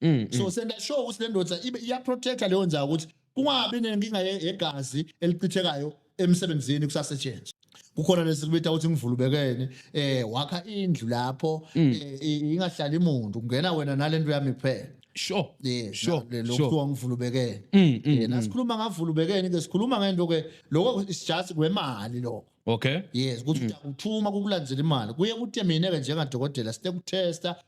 Mm, so mm. senza sure ukuthi le ndoda ibe iyaprotecta leyo nzayo ukuthi kungabi nenkinga yegazi elichithekayo emsebenzini kusasetshenzwa kukhona lesikubita ukuthi ngivulubekene eh wakha indlu lapho mm. eh, ingahlali muntu kungena wena nalento yami kuphela sure yeah sure lokuthiwa ngivulubekene yena sikhuluma ngavulubekene ke sikhuluma ngento ke lokho is just kwemali lokho okay yes ukuthi uthuma kukulandzela imali kuye kuthe mina ke njengadokotela site kutesta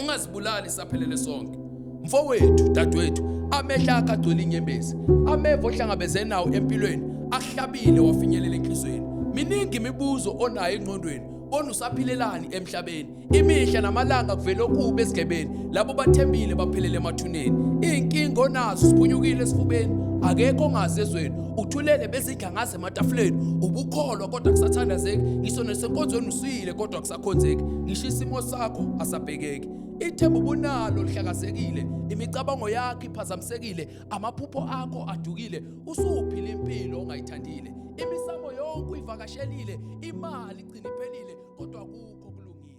ungazibulali saphelele sonke mfowethu dadwethu amehla akhe agcwele inyembezi ameva ohlangabeze nawo empilweni ahlabile wafinyelela enhlizweni miningi imibuzo onayo engqondweni bona usaphilelani emhlabeni imihla namalanga kuvela okubi esigebeni labo bathembile baphelele emathuneni iy'nkinga onazo siphunyukile esifubeni akekho ongazi ezweni uthulele bezidla ngaze ematafuleni ubukholwa kodwa kusathandazeki ngisho nesenkonzweni usile kodwa akhonzeki ngisho isimo sakho asabhekeki ithemba ubunalo lihlakazekile imicabango yakho iphazamisekile amaphupho akho adukile usuphila impilo ongayithandile imisamo yonke uyivakashelile imali igcina iphelile kodwa kukho kulungile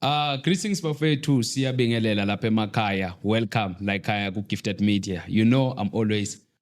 Ah uh, greetings bafethu siyabingelela lapha emakhaya welcome like khaya ku Gifted Media you know I'm always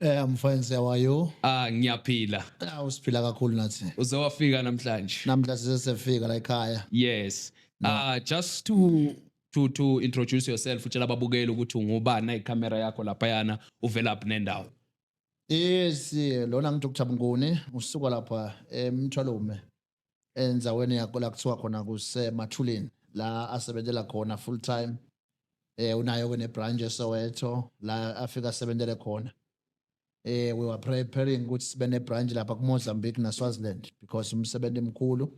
Eh mfwenze how are you? Ah ngiyaphila. Ah usiphila kakhulu nathi. Uze wafika namhlanje. Namhla sisefika la ekhaya. Yes. Ah uh, just to to to introduce yourself utshela ababukeli ukuthi ungubani na icamera yakho lapha yana uvela up nendawo. Yes, lona ngithi uKuthabunguni usuka lapha eMthwalume. endzaweni yakho la kuthiwa khona kusemathuleni la asebenzela khona full time eh unayo ke nebranch eSoweto la afika asebenzele khona eh we were preparing ukuthi sibe nebranch lapha kuMozambique naSwaziland because umsebenzi mkhulu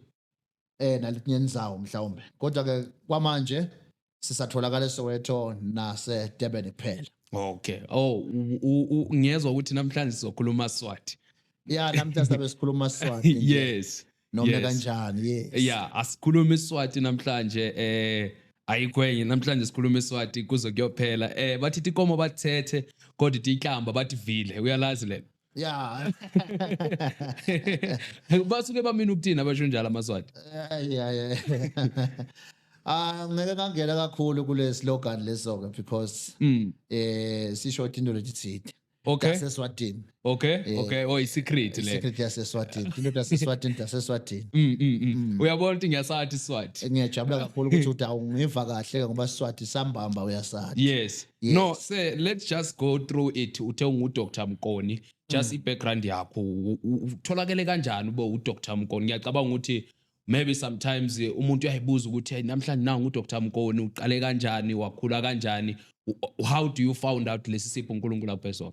eh naletinye indzawo mhlawumbe kodwa ke kwamanje sisatholakala eSoweto nase Durban kuphela okay oh ngiyezwa ukuthi namhlanje sizokhuluma Swati yeah namhlanje sabe sikhuluma Swati yes noma yes. kanjani yes yeah asikhuluma iSwati namhlanje eh ayikwenye namhlanje sikhuluma iSwati kuze kuyophela eh bathi ikomo bathethe kodwa ihlamba bathi vile uyalazi lena ya basuke bamina ukuthini abasho njalo amaswati ya ya Ah ngeke ngangena kakhulu kule slogan leso ke because mm. eh sisho into lethithithe okay yaseswatini okay eh, okay oh isecret le secret yaseswatini into yaseswatini yaseswatini mm, mm mm mm uyabona ukuthi ngiyasathi iswati eh, ngiyajabula kakhulu ukuthi uthi awungiva kahle ngoba iswati sambamba uyasathi yes Yes. no sir let's just go through it uthe ungudr mkoni just i-background yakho u- u- utholakele kanjani ube udr mkoni ngiyacabanga ukuthi maybe sometimes eh, umuntu uyayibuza ukuthi "Hey, namhlanje nangu udr mkoni uqale kanjani wakhula kanjani U- how do you found out lesi sipho unkulunkulu akuphe sona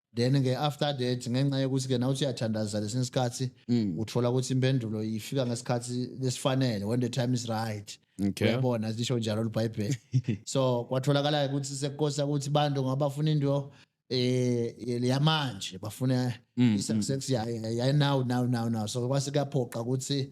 then ke after that ngenxa yokuthi ke nawuthi uyathandaza lesinye isikhathi Mm. uthola ukuthi impendulo ifika ngesikhathi lesifanele when the time is right Okay. uyabona lisho njalo libhayibheli so kwatholakala ukuthi sekukosa ukuthi bantu ngabafuna into eh yamanje bafuna Mm, i-success yayo yayo now now now now so kwase kuyaphoqa ukuthi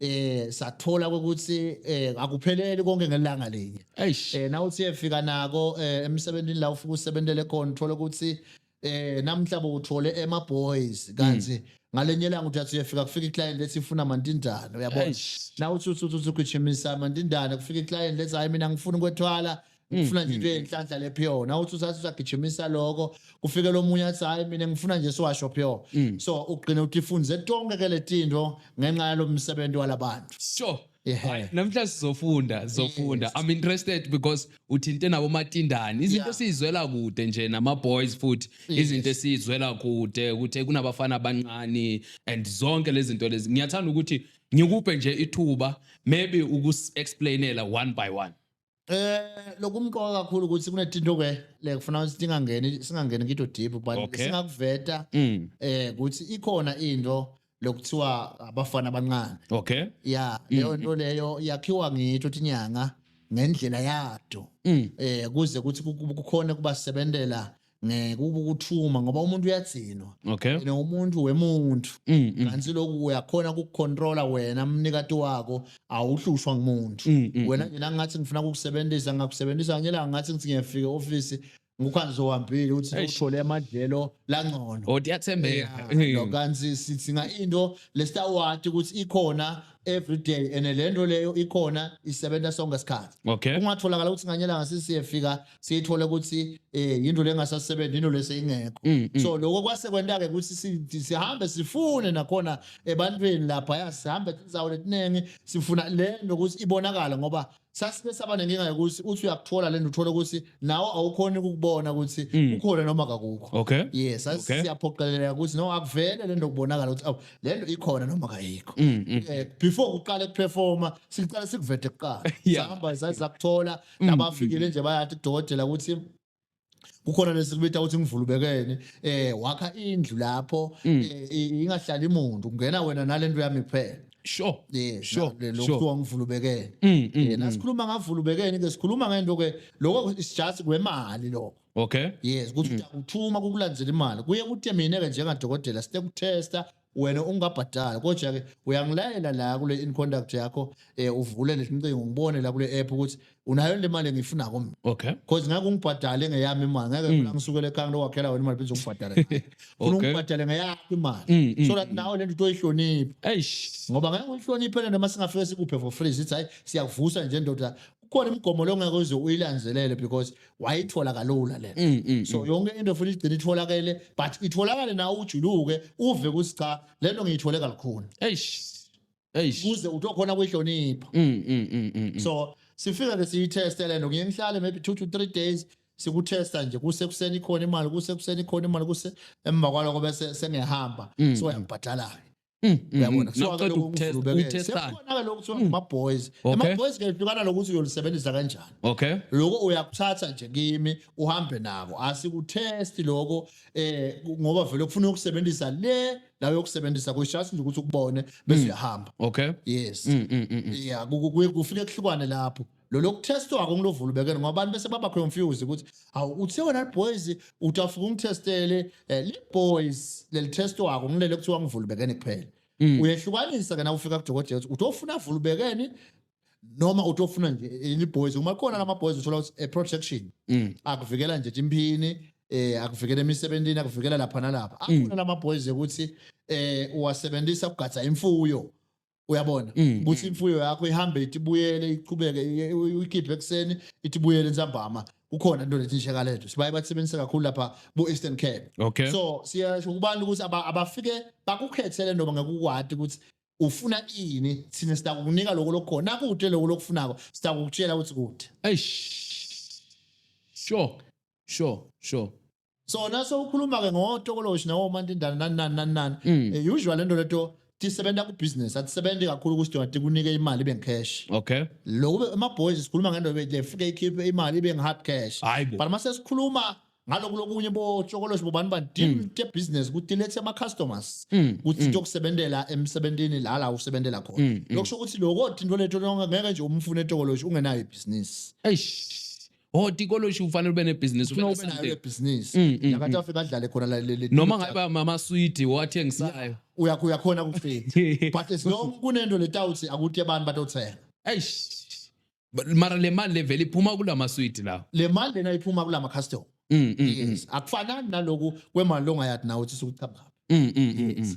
eh sathola ukuthi eh akupheleli konke ngelanga linye Eish. eh nawuthi efika nako eh, emsebenzini la ufika usebenzele khona uthola ukuthi eh namhla bowuthole ema boys kanti ngalenye langa uthi athi uyefika kufika iclient lethi ifuna amantindane uyabona Eish. nawuthi uthi uthi ugijimisa amantindane kufika iclient lethi hayi mina ngifuna ukwethwala Mm, ngifuna nje mm, into mm. enhlanhla le pure na uthi usathi usagijimisa lokho kufike lomunye athi hayi mina ngifuna nje siwasho pure so ugcina uthi funze tonke ke letinto ngenxa yalomsebenzi walabantu sure Yeah. namhla sizofunda sizofunda yes. i'm interested because uthinte nabo matindani izinto yeah. sizizwela kude nje nama boys futhi yes. izinto esizizwela kude ukuthi kunabafana abancane and zonke lezi zinto lezi ngiyathanda ukuthi ngikuphe nje ithuba maybe ukus explainela one by one Eh lokumqoka kakhulu ukuthi kunetinto ke le kufuna ukuthi singangeni singangeni kito deep but Okay. singakuveta Mm. eh ukuthi ikhona into lokuthiwa abafana abancane. Okay. Ya leyo nto leyo yakhiwa ngitho tinyanga ngendlela yato. Mm. Eh kuze ukuthi ku- ku- kukhona kubasebenzela ngeke ube ukuthuma ngoba umuntu uyadzinwa okay yena umuntu wemuntu mm, mm. kanti lokhu uyakhona ukucontrola wena mnikati wakho awuhlushwa ngumuntu mm, mm, wena mm. nje nangathi ngifuna ukukusebenzisa ngakusebenzisa ngela ngathi ngithi ngiyafika office ngukhanzi ohambile uthi uthole amadlelo langcono odi oh, yathembeka no kanzi sithi nga into lesitawati ukuthi ikhona every day and lento leyo ikhona isebenza sonke isikhathi okay ungatholakala ukuthi nganyela ngasisiyefika siyithole ukuthi eh yinto lengasasebenzi into lese ingekho Mm, mm. so lokho kwase kwenta-ke ukuthi si- sihambe sifune nakhona ebantwini lapha ya sihambe tinzawo letiningi sifuna le nto ukuthi ibonakale ngoba sasibe saba nenkinga yokuthi uthi uyakuthola le nto uthole ukuthi nawe awukhoni ukubona ukuthi Mm. ukhona noma kakukho okay yes sasi- Okay. siyaphoqeleleka ukuthi no akuvele le nto kubonakala ukuthi awu le nto ikhona noma kayikho Mm, mm. Eh, before kuqale kuperforma siqale sikuvete kuqala Yeah. sihamba saze sakuthola Mm. nabafikile nje bayathi udokotela ukuthi kukhona lesikubita ukuthi ngivulubekene eh wakha indlu lapho Mm. eh, i- ingahlali muntu kungena wena nalento yami kuphela sure eh Sure, na- le- sure. lokuthiwa ngivulubekene Mm, mm, Eh, mm. nasikhuluma ngavulubekene ke sikhuluma ngento ke lokho is just kwemali lokho okay yes ukuthi uyakuthuma kukulandzela imali kuye kuthe mina ke njengadokotela site kutesta wena ungabhadali kodwa-ke uyangilayela la kule inconduct yakho um uvule lesincingo ngibone la kule app ukuthi unayo le mali engiyifunako mina okay because ngeke ungibhadale ngeyami imali ngeke mm. ngisukele ekhaya ngilo wakhela wena imali phinze ungibhadale funa ungibhadale ngeyakho imali mm, mm, so that nawe le nto utoyihloniphe eish ngoba ngeke uyihloniphe le nto uma singafike sikuphe for free sithi hhayi siyakuvusa nje ndoda kukhona imigomo leyo ngeke uze uyilanzelele because wayithola kalula lena Mm, mm, so yonke into futhi igcina itholakele but itholakale nawe ujuluke uve ukuthi cha lento ngiyithole kalukhuni Eish. Eish. kuze utokhona kuyihlonipha Mm, mm, mm, mm, mm. so sifika ke siyitheste lento ngiye ngihlale maybe 2 to 3 days sikuthesta nje kusekuseni ikhona imali kusekuseni ikhona imali kuse emva kwaloko bese sengihamba Mm. so yangibhadala Mm, mm, uyabona mm. kuthiwa-ke Noqeda lokhu ukutest- kuvulubekele. ukutesta. Sekukhona-ke lokhu kuthiwa ngama-boys Okay. ama-boys ke hlukana nokuthi uyolisebenzisa kanjani okay loko uyakuthatha nje kimi uhambe nako asikuthesti loko eh ngoba vele kufuna ukusebenzisa le la yokusebenzisa kuyishasi nje ukuthi ukubone bese uyahamba okay yes Mm, mm, mm, mm. yeah ku- ku- kuye kufike kuhlukane lapho lo lokuthestwa wako ngilovula ubekene ngoba abantu bese baba confused ukuthi awu uthe wena boys utafika ungithestele eh, le boys leli test wako ngilele kuthiwa ngivula ubekene kuphela mm. uyehlukanisa ke na ufika kudokotela ukuthi utofuna vula ubekene noma utofuna nje ili boys uma khona lama boys uthola ukuthi a eh, protection mm. akuvikela nje imphini eh akuvikela emisebenzini akuvikela lapha nalapha mm. akhona lama boys ukuthi eh uwasebenzisa ukugada imfuyo uyabona Mm, ukuthi mm. imfuyo yakho ihambe ithi buyele iqhubeke i- u- uyikhiphe ekuseni ithi buyele nsambama kukhona into lethi nje kalento sibaye basebenzisa kakhulu lapha ku-eastern cape okay so siyasho kubantu ukuthi aba- abafike bakukhethele noma ngakukwati ukuthi ufuna ini thina sitakukunika loko lokukhona nakude loko lokufunako sitakukutshela ukuthi kude eish sure sure sure so nase ukhuluma ke ngotokoloshi nawo mantindana nani nani nani nani Mm. Eh, usually lento leto tisebenza ku business atisebenzi kakhulu ukuthi dona tikunike imali ibe cash okay lokube ama boys sikhuluma ngento lefike ikhiphe imali ibe hard cash Hayibo. but mase sikhuluma ngaloku lokunye bo chokoloshi bobani bani deal te business ukuthi lethe ama customers Mm, ukuthi tokusebenzela emsebenzini la la usebenzela khona Mm, mm. lokusho ukuthi lokho into leto lonke ngeke nje umfune tokoloshi ungenayo business eish oh tikoloshi ufanele ube nebhizinisi ufuna ube nayo le business Mm, mm, nakathi afike adlale khona la le- le- noma ngabe amaswidi owathengisayo uya uya khona kufika but as long kunento letawuthi akuthi abantu batothenga eish But mara le mali levele iphuma kula maswidi lawo le mali lena iphuma kulama custom Mm, mm, mm, yes akufanani naloku kwemali longayathi nawe uthi sukuchapha mm, mm, mm, mm.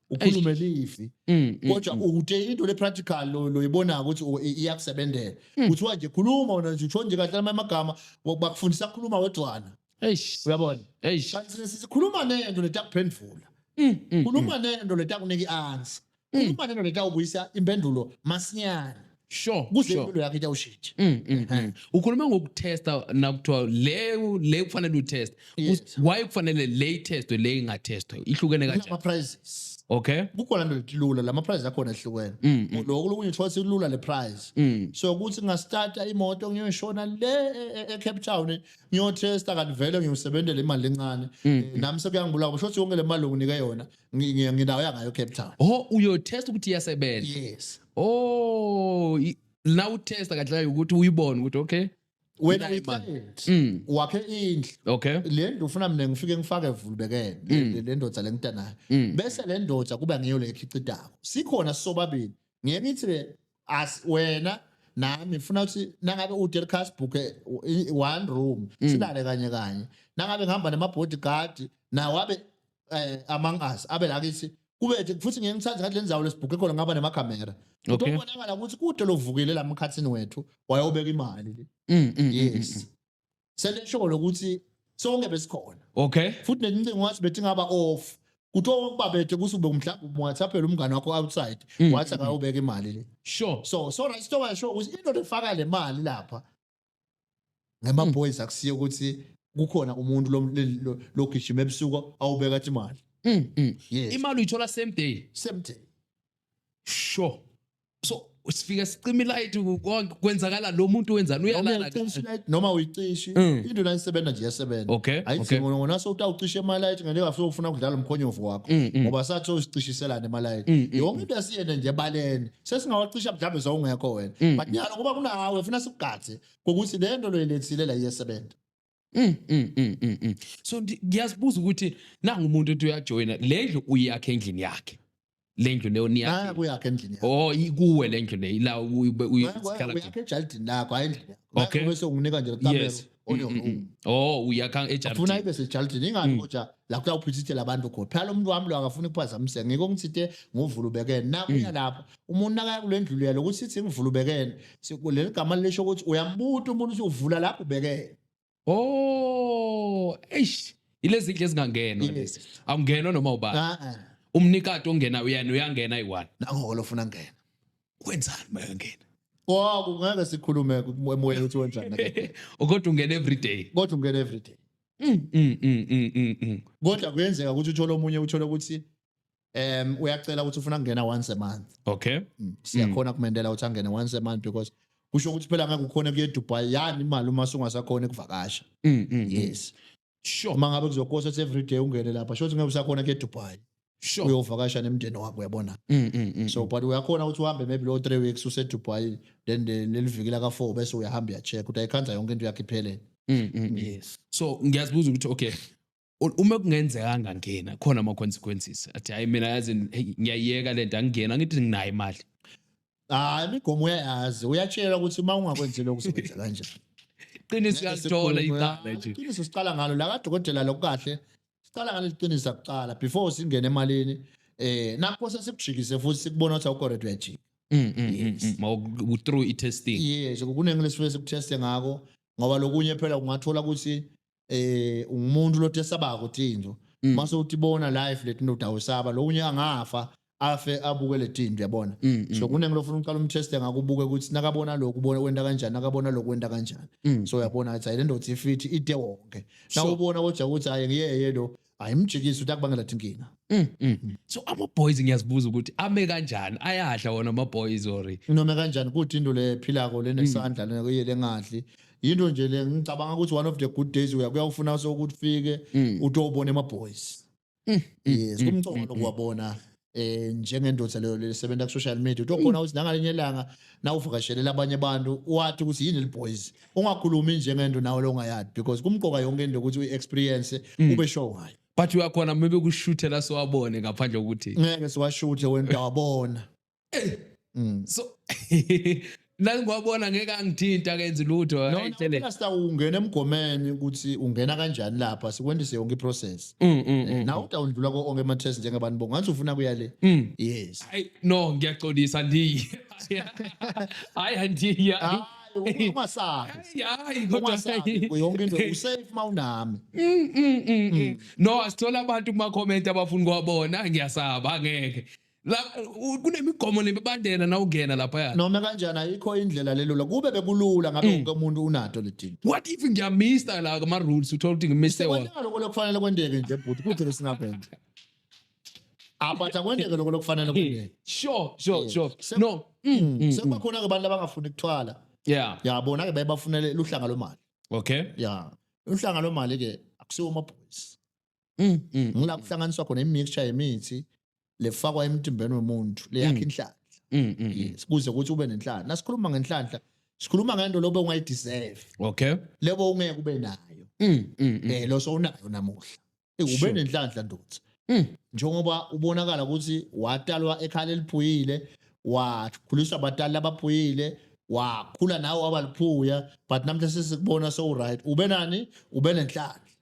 ukhulume lifi mm, mm, kodwa mm. uthe into le practical lo loyibona ukuthi oh, iyakusebenzela kuthiwa nje khuluma wena nje uthonje kahle amagama bakufundisa ukukhuluma wedwana eish uyabona eish kanti sikhuluma nento letakuphendvula khuluma nento letakunika iansa khuluma nento letakubuyisa impendulo masinyane sure kuze sure. impilo yakhe itawushintsha Mm, mm, mm. ukhuluma ngokutesta nakuthiwa le le kufanele utest Yes. why kufanele le itestwe le ingatestwe ihlukene kanjani ama-prizes okay kukhona nto lithi lula la ma-prize akhona ehlukene Mm, mm. lokhu lokunye kuthiwa silula le prize Mm. so ukuthi ngasitata imoto ngiyoshona le e- e- ecape town ngiyothesta kanti vele ngiyosebenzela imali encane Mm, Eh, nami sekuyangibulaka kusho ukuthi yonke le mali onginike yona Ngi- ngi- ngindawo yangayo cape town Oh uyotest ukuthi iyasebenza. yes Oh i- la utesta kahle kahle ukuthi uyibone ukuthi okay. wena Nayi man. uyiqedi. Mm. wakhe indlu Okay. le ndlu ufuna mina ngifike ngifake evulubekene le- le ndoda lengita nayo Mm. bese le ndoda kuba ngiyo le ekhicitako sikhona sobabili ngeke ngithi-ke as wena nami funa ukuthi nangabe uDelcas booke one room mm. silale kanye kanye nangabe ngihamba nema bodyguard nawo abe eh, among us abe la kithi kubethe futhi ngeke ngithathe ngathi lenzawo lesibhuke khona ngaba nema camera utobonakala ukuthi kude lovukile la mkhathini wethu wayobeka imali mm, mm, yes selesholo ukuthi sonke besikhona okay futhi nelincingo wathi bethi ngaba off kuthiwa wokubabethe kuthi ube mhlawumbe umwathaphela umngane wakho outside Mm. wathi akayobeka imali le sure so so right so washo ukuthi into efaka le mali lapha ngema boys akusiye ukuthi kukhona umuntu lo- le- lo- logijima ebusuku awubeka athi imali Mm, mm. yes imali uyithola same day same day sure so sifika sicima ilight konke kwenzakala lo muntu wenzani uyalala noma uyicishi mm. into nayisebenza nje yasebenza okay ayidingi okay. ngona so utawucisha emalight ngeke afike ufuna ukudlala umkhonyovu wakho mm, mm. ngoba sathi usicishiselana emalight yonke into esiyene nje baleni sesingawacisha mhlawumbe sawungekho wena but nyalo kuba kunawe ufuna sikugathe ukuthi le nto loyilethile la iyesebenza Mm, mm, mm, mm, mm. so ndi- ngiyazibuza ukuthi nangu umuntu uthi uyajoyina le ndlu uyakhe endlini yakhe le ndlu leyo naya niyakhe kuyakhe endlini yakho o ikuwe le ndlu leyo la uyi- uyi- uyi- Naya kuyakhe- uyakhe ejalidini lakho hayi endlini yakho Naya Okay. bese unginika nje kamero yes on your Mm, mm, own mm. oh uyakha funa ejalidini ibe sejalidini ingani Mm. kodwa la kuya uphithithela abantu khona phela umuntu wami lo akafuni kuphazamiseke ngeke ongithinte ngovula ubekene nakuya lapho umuntu nakaya kule ndlu lelo ukuthi sithi ngivula ubekene leli gama lisho ukuthi uyambuta umuntu ukuthi uvula lapho ubekene oh eish ilezi ndlu ezingangenwa lezi awungenwa noma ubani ah, ah. umnikati ongena uyena uyangena iwani nango lo funa ngena kwenzani mayangena Oh kungeke sikhulume emoyeni ukuthi wenzani kodwa ungena every day kodwa ungena every day Mm, mm, mm, mm, mm, mm. kodwa kuyenzeka ukuthi uthole omunye uthole ukuthi um uyacela ukuthi ufuna kungena once a month okay mm, siyakhona mm. kumendela ukuthi angene once a month because kusho ukuthi phela ngeke ukhona kuye Dubai yani imali uma sungasakhona ukuvakasha mm, mm, yes sure uma ngabe kuzokosa ukuthi every day ungene lapha sho ukuthi ngeke usakhona kuye Dubai sure uyovakasha nemndeni wakho uyabona so but uyakhona ukuthi uhambe maybe lo 3 weeks use Dubai then lelivikela ka 4 bese uyahamba uyacheck ukuthi ayikhanza yonke into yakhe iphelele yes so ngiyazibuza ukuthi okay U- uma kungenzeka angangena khona ama consequences athi hayi mina yazi hey, ngiyayeka lento angingena ngithi nginayo imali Ah imigomo uyayazi uyatshela ukuthi uma ungakwenzi lokho uzokwenza kanjani. qiniso uyalithola icala nje Iqiniso siqala ngalo la kadokotela lokukahle siqala ngalo iqiniso kuqala before singene emalini eh nakho sesibujikise futhi sikubona ukuthi awukho right uyajika. Mm, mm, mm, Yes. mm. Ma u- u- through i-testing Yes kuningi lesifike sikuteste ngako ngoba lokunye phela ungathola ukuthi eh ungumuntu lothi esaba ukuthi into Mm. mase uthi bona live leti ndoda awusaba lo unye angafa afe abuke leti into yabona Mm, mm, so kuningi lofuna uqala umteste ngakubuke ukuthi nakabona lokhu ubona wenda kanjani nakabona lokhu wenda kanjani mm. so uyabona ukuthi hayi le ndoda ifithi ide wonke So- nawubona kodwa ukuthi hayi ngiyeye lo ayimjikisi ukuthi akubangela thi inkinga Mm, mm. so ama-boys ngiyazibuza ukuthi ame kanjani ayadla wona ama-boys ori noma kanjani kuthi into le philako lenesandla lena kuye lengadli yinto nje le ngicabanga ukuthi one of the good days uya kuyawufuna sokuthi ufike utowubona ema-boys yes kumcono kuwabona eh njengendoda leyo lesebenza ku social media utokhona ukuthi nangalinye ilanga nawuvakashelela abanye abantu wathi ukuthi yini liboys ungakhulumi njengento nawe longayazi because kumqoka yonke into ukuthi uyi-experience ube sure ngayo but uyakhona maybe kushuthela siwabone ngaphandle kokuthi ngeke siwashuthe wena utawabona mm. so nangiwabona ngeke angithinta kenzi lutho no phela star ungena emgomeni ukuthi ungena kanjani lapha sikwendise yonke iprocess mm, mm, mm, na uta undlula ko onke ama test njengabantu bonke ngathi ufuna kuya le yes hayi no ngiyaxolisa ndiye hayi andiye ah, ungasazi hayi kodwa yonke into usafe mawunami no asithola abantu kuma comment abafuna kwabona ngiyasaba ngeke la u- kunemigomo nemibandela nawungena laphaya noma kanjani ayikho indlela lelula kube bekulula ngabe wonke umuntu unato ledinto what if ngiyamista la ama-rules uthola ukuthi ngimise wona kwenzeka lokho lokufanele kwendeke nje bhuti kuthi besingabhenda abatha kwendeke lokho lokufanele kwendeke sure sure Yes. sure Se- no Mm, mm, mm. sekubakhona-ke abantu abangafuni kuthwala yeah yabona-ke baye bafunele luhlanga lwemali okay ya uhlanga lwemali-ke akusiwo amabhoyisi Mm, mm, ngila kuhlanganiswa khona imixture yemithi lefakwa emtimbeni womuntu leyakha mm. inhlanhla mm, mm, yes kuze ukuthi ube nenhlanhla nasikhuluma ngenhlanhla sikhuluma ngento lobe ungayideserve okay lebo ungeke ube nayo eh lo sowunayo namuhla eh, ube nenhlanhla ndothi njengoba ubonakala ukuthi watalwa ekhala eliphuyile wakhuliswa abatali abaphuyile wakhula nawe wabaliphuya but namhla sesikubona so right ube nani ube nenhlanhla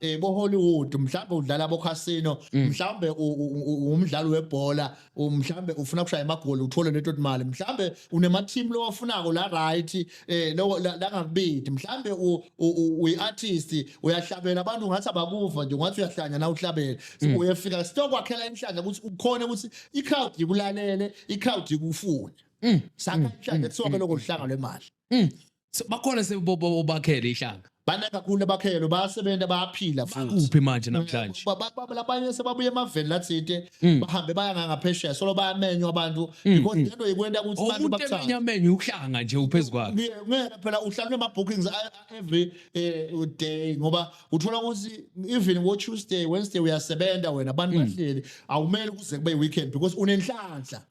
eh bo Hollywood mhlawumbe udlala bo casino mm. mhlawumbe umdlali webhola mhlawumbe ufuna kushaya amagoli uthole leto imali mhlawumbe unema team lowafunako la right eh lo la ngakubidi mhlawumbe uyi artist uyahlabela abantu ngathi abakuva nje ngathi uyahlanya na uhlabela mm. uyefika sitokwakhela inhlanja ukuthi ukhona ukuthi i crowd ikulalele i crowd ikufuna mm. saka inhlanja kuthiwa ke lokho luhlanga lwemali So, bakhona sebakhele ihlanga bana kakhulu abakhelo bayasebenza bayaphila futhi kuphi manje namhlanje Ba- ba- ba- labanye sebabuye emaveni lathide Mm. bahambe baya ngangaphesheya solo bayamenywa abantu Mm, because mm. lento ikwenta ukuthi Oh, abantu umuntu emenya bakuthande menye uhlanga nje uphezu kwakhe Kuye- ngeke phela uhlalwe ama-bookings a- a- every eh, day ngoba uthola ukuthi even ngo-tuesday wednesday uyasebenza wena abantu Mm. bahleli awumele kuze kube i-weekend because unenhlanhla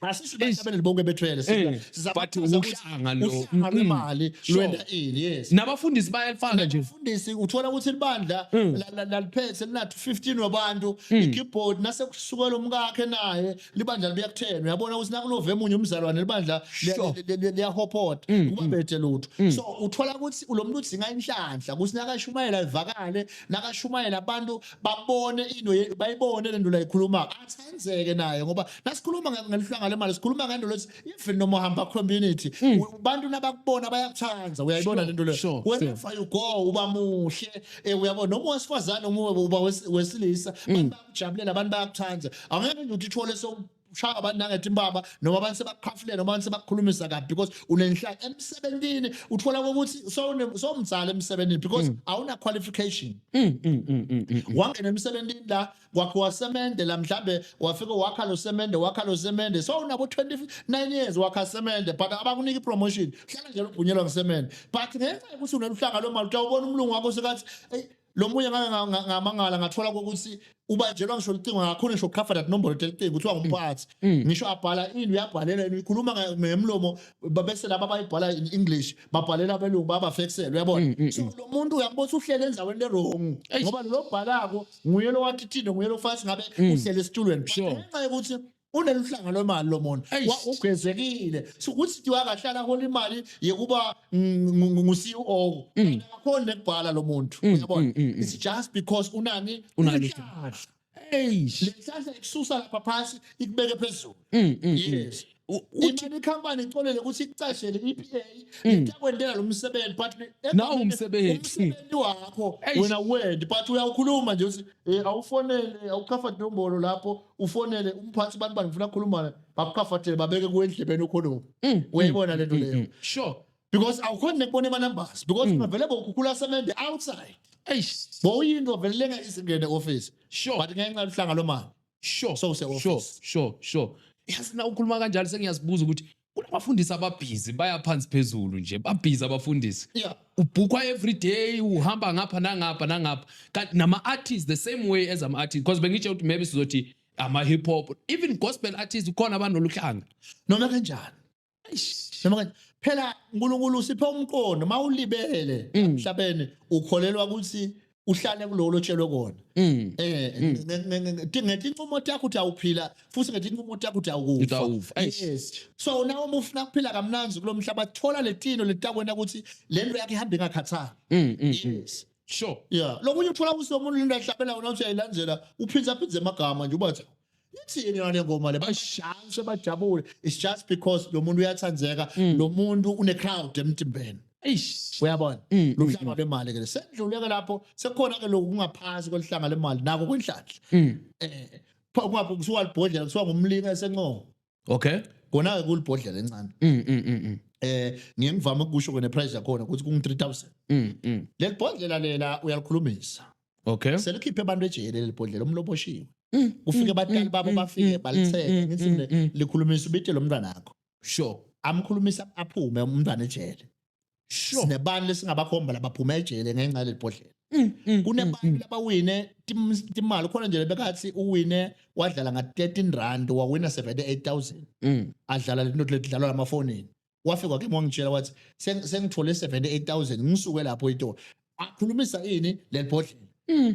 asisibahlabeleli bonke bethwele Eh, but wuhlanga lo. uhlanga Mm. lwemali Sure. lwenta ini yes nabafundisi bayalifaka nje fundisi uthola ukuthi libandla Mm. la- la- laliphethe linathi 15 wabantu ikeyboard nase kusukela umkakhe naye libandla libuyakuthenwa uyabona ukuthi nakulove emunye umzalwane libandla liya- Sure. Mm, li- li- li- liyahopota kuba bethe lutho so uthola ukuthi lo muntu udzinga inhlanhla ukuthi nakashumayela ivakale nakashumayela abantu babone into bayibone lento la ikhuluma athenzeke naye ngoba nasikhuluma ngelihlanga lemali sikhuluma ngento lesi even noma uhamba community hmm. abantu nabakubona bayakuthanda uyayibona lento le wherever you go uba muhle eh, uyabona noma wesifazane uma uba wesilisa hmm. abantu bakujabulela abantu bayakuthanda angeke nje uthithole so shaya abantu nangethi impama noma abantu sebakukhafulele noma abantu sebakukhulumisa kabi because unenhlaka emsebenzini uthola ukuthi sowumzala emsebenzini because mm. awuna qualification mm, mm, wangena emsebenzini la kwakhe wasemende la mhlambe wafika wakha lo semende wakha lo semende so unabo 29 years wakha semende but abakunika ipromotion hlala nje lobhunyelwa ngesemende but ngenxa yokuthi uneluhlanga lomali utawubona umlungu wakho sekathi lo munye ngake nga- nga- ngamangala ngathola kokuthi ubanjelwa ngisho licingo akakhona ngisho ukuqhafa that number telicingo kuthiwa ngumphathi Mm. ngisho abhala ini uyabhalela yena uyikhuluma nge- ngemlomo ba- bese laba abayibhala in english babhalela abelungu babafekisele Mm, uyabona mm, so lo muntu uyambona ukuthi uhlele endaweni erongu Eish. ngoba lo bhalako nguye lo wathithinde nguye lo fathi ngabe Mm. uhlele esitulweni But Sure. ngenxa yokuthi uneluhlanga lwemali lo muntu Eish. Wa- ugezekile so ukuthi nje wakahlala hola imali yekuba ngu-ceo Mm. akakhoni nekubhala lo muntu Mm, uyabona mm, mm, mm. it's just because unani Unani. Unehlahla. Eish. le nhlahla ikususa lapha phansi ikubeke phezulu Mm, mm, mm. yes U- uthi- imali ikhampani icolele ukuthi ikucashele i-epa itakwentela lo msebenzi but le- Mm. Nawu umsebenzi. umsebenzi wakho Eish. wena wend but uyawukhuluma nje ukuthi eh, awufonele awukhafa nombolo lapho ufonele umphathi bani bani ngifuna kukhuluma bakukhafathele babeke kuwe endlebeni ukhulume Mm, uyayibona lento mm, leyo mm. sure because awukhona nekubona emanumbers because ungavele bokhukhula semente outside eish bowuyinto velenga izingene office sure but ngenxa luhlanga lomali sure So use office. sure sure sure yazi na ukhuluma kanjalo sengiyazibuza ukuthi kunabafundisi ababhizi baya phansi phezulu nje babhizi abafundisi Yeah. ubhukwa every day uhamba ngapha nangapha nangapha kanti nama-artists the same way as ama-artists because bengitshe ukuthi maybe sizothi ama-hip hop even gospel artists kukhona abanoluhlanga noma kanjani noma kanjani phela unkulunkulu usiphe umqondo uma ulibele emhlabeni ukholelwa ukuthi uhlale kuloko lotshelwe kona mm. eh mm. ngethi inqumo yakho uthi awuphila futhi ngethi inqumo yakho uthi awukufa yes so nawe uma ufuna kuphila kamnanzi kulomhlaba thola letino letakwena ukuthi lento yakhe ihamba ingakhathali mm, yes sure yeah lokunye uthola ukuthi umuntu lento ahlabela wona uthi ayilandela uphindza phindze amagama nje ubathi ithini yona le ngoma le bashanse bajabule it's just because lo muntu uyathandeka lo muntu une-crowd emtimbeni Eish. uyabona Mm, lo hlanga lemali ke sendluleke lapho sekukhona ke lokhu kungaphansi koluhlanga lemali nako kwenhlanhla Mm. eh kuthiwa libhodlela kuthiwa ngumlinga esencomo okay kona-ke kulibhodlela encane mm, mm, mm, mm. eh ngiye ngivame ukusho kona price yakhona ukuthi kungu 3000 mm, mm. leli bhodlela lela uyalikhulumisa okay selikhiphe abantu ejele leli bhodlela umlobo oshiwe Mm, kufike mm, batali mm, babo mm, bafike mm, balitheke mm, ngithi mm, le- mm. likhulumisa ubite lo mntwana akho sure amkhulumisa aphume umntwana ejele Sure. sinebantu lesingabakhomba labaphuma ejele ngenxa yaleli bhodlela Mm, mm, kunebantu mm, mm. labawine tim- timali ukhona nje lebekathi uwine wadlala nga-13 rand wawina 78000 Mm. adlala lento ledlalwa lamafonini wafika ke wangitshela wathi "Seng- sengithole 78000 ngisuke lapho itolo akhulumisa ini leli bhodlela Mm.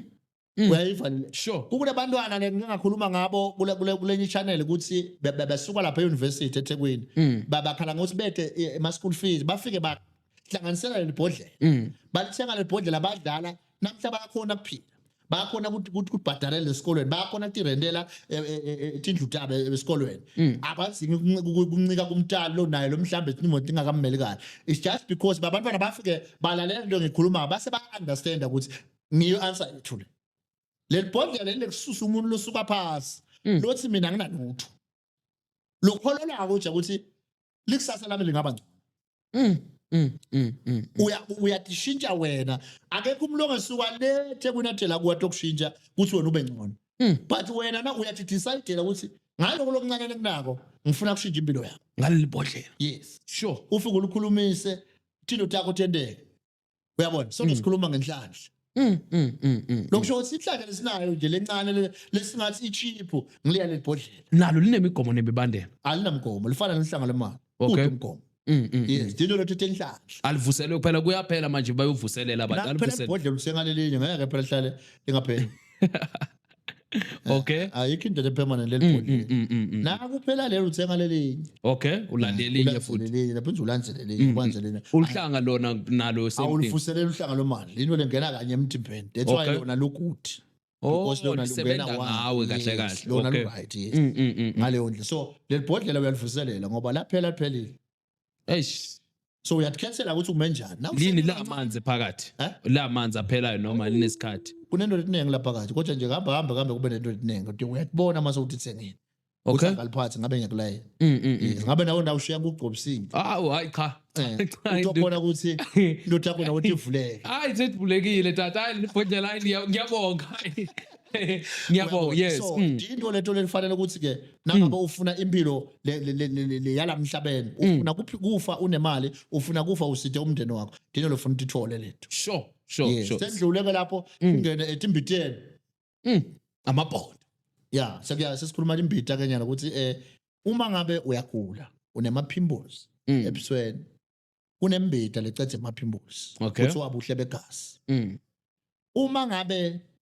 Mm. uyayiva le Sure. kunabantwana ke ngingakhuluma ngabo kule- kule- kulenye channel ukuthi be- be- besuka lapha e-university ethekwini Mm. Ba- bakhala ngokuthi bede eh, ama-school fees bafike bahlanganisela leli bhodlela Mm. balithenga leli bhodlela badlala namhla bayakhona kuphila bayakhona ukuthi- ukuthi kubhadalele esikolweni bayakhona tirendela eh, eh, eh, tindlu tabo eh, esikolweni Mm. abadzingi kunci- ku- kuncika kumtali lo naye lo mhlawumbe imoto ingakammeli kahle it's just because babantwana bafike balalela into engiyikhulumayo base ba-understanda ukuthi ngiyo answer yothule leli bhodlela leli lekususa umuntu losuka phasi Mm. lothi mina nginalutho lokholelako nje ukuthi likusasa lami lingaba ngcono Mm, mm, mm, mm. uya uyadishintsha wena akekho umuntu ongesuka lethe kunadela kuwa tokushintsha ukuthi wena ube ngcono Mm. but wena na uyathi decide ukuthi ngaloko lokuncane kunako ngifuna kushintsha impilo yakho ngaleli bhodlela yes sure ufike ulukhulumise thina utakho tendeke uyabona sonke mm. sikhuluma ngenhlanhla Mm, mm, mm, mm. Lokusho mm. ukuthi inhlaka lesinayo nje lencane lesingathi ichiphu ngiliya lebhodlela. Nalo linemigomo nemibandela. Alinamgomo, lifana nenhlanga lemali. Okay. Umgomo. Mm, mm, yes, mm. dino lothu tenhlahla. Alivuselwe kuphela kuyaphela manje bayovuselela abantu. Alivuselwe. Phela ibhodlela usengalelinye ngeke phela hlale lingapheli. okay ayikho into le permanent leli mm, bhodi mm, mm, na kuphela lelo uthenga lelinye okay ulandelinye futhi lelinye lapho nje ulandelinye kwanje lena uhlanga lona nalo same thing awulifuselela uhlanga lomali lento lengena kanye emthimbeni that's why lona lokuthi oh, because lona lungena ngawe kahle kahle lona lu right yes ngaleyo ndlela so leli bhodlela uyalivuselela ngoba laphela liphelile eish so uyathkhethela ukuthi ume njani Now lini uhleli la kancane. manzi phakathi Eh? la manzi aphelayo noma linesikhathi kunento etiningi lapha kathi kodwa nje kuhamba hamba kambe kube nento etiningi kodwa uyakubona uma sewuthi thengeni okay ngaliphathi ngabe ngiyakulayela Mm, mm, mm. yes ngabe nawe ndawo ushiya kugcobisile awu hayi cha Eh, Cha, into ndu- khona ukuthi into yakho nawe ukuthi ivuleke hayi sesibulekile tata hayi nibhodlela hayi ngiya- ngiyabonga ngiyabonga yes So, mm. into leto lelifanele ukuthi ke nangabe mm. ufuna impilo yalamhlabeni mm. ufuna kufa unemali ufuna kufa usithe umndeni wakho dino lofuna ukuthi ithole lethu sure sure sure sendluleke lapho mm. ungene ethi mbiteni mm amabhondo ya sekuya sesikhuluma imbita kenyana ukuthi eh uma ngabe uyagula unemaphimbozi ebusweni kunembita lecethe emaphimbozi okay. kuthiwa buhle begazi uma ngabe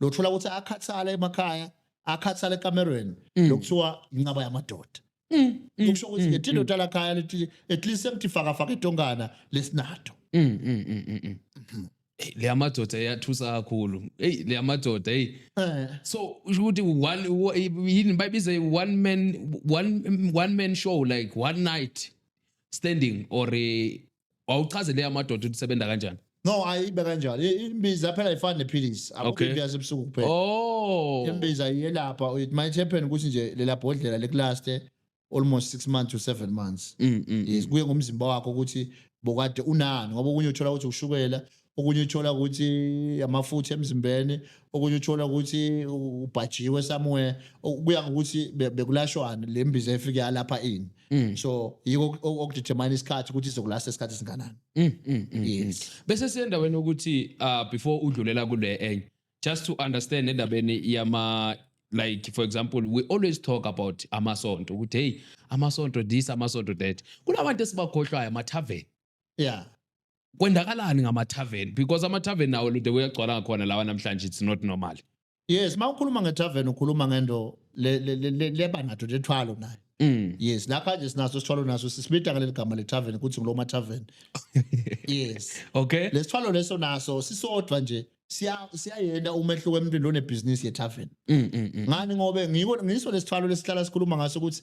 lothola ukuthi akhathala emakhaya akhathala ekamerweni Mm. lokuthiwa inqaba yamadoda Mm, mm, kusho ukuthi mm, ngethi mm, indoda lakhaya lithi at least semtifakafaka etongana lesinato mm, mm, mm, mm, mm. Mhm. Eyi, le yamadoda iyathusa kakhulu eyi le yamadoda eyi eh so usho ukuthi one wo- yini bayibiza one man one one man show like one night standing or eh, wawuchaze leya madoda ukuthi sebenza kanjani no ayibe kanjalo I- imbiza phela ifana nephilisi Okay. akukho imbiza ebusuku kuphela oh imbiza iyelapha it might happen ukuthi nje lela bhodlela likulaste almost 6 months to 7 months Mm, mm, yes kuye ngomzimba wakho ukuthi bokade unani ngoba okunye uthola ukuthi ushukela okunye uthola ukuthi amafutha emzimbeni okunye uthola ukuthi ubhajiwe somewhere kuya ngokuthi bekulashwani le mbiza efike yalapha ini mm. so yiko okudetermine isikhathi ukuthi izokulasta isikhathi esinganani mm, mm, yes bese siyendaweni ukuthi uh, before udlulela kule enye just to understand endabeni yama like for example we always talk about amasonto ukuthi hey amasonto this amasonto that kunabantu esibakhohlwayo amathaveni yeah kwendakalani ngama-tarven because ama-tarven nawo lude kuyagcwala ngakhona lawa namhlanje it's not normal yes uma ukhuluma nge-tarven ukhuluma ngento leba nato lethwalo nayo Mm. yes la kanje sinaso sithwalo naso sisibita ngaleli gama le-tarven ukuthi ngiloma tarven yes okay lesithwalo leso naso sisodwa nje siyayenda umehluko emntwini lonebhizinisi ye-tarven mm, mm, ngani ngobe ngiso lesithwalo lesihlala sikhuluma ngaso ukuthi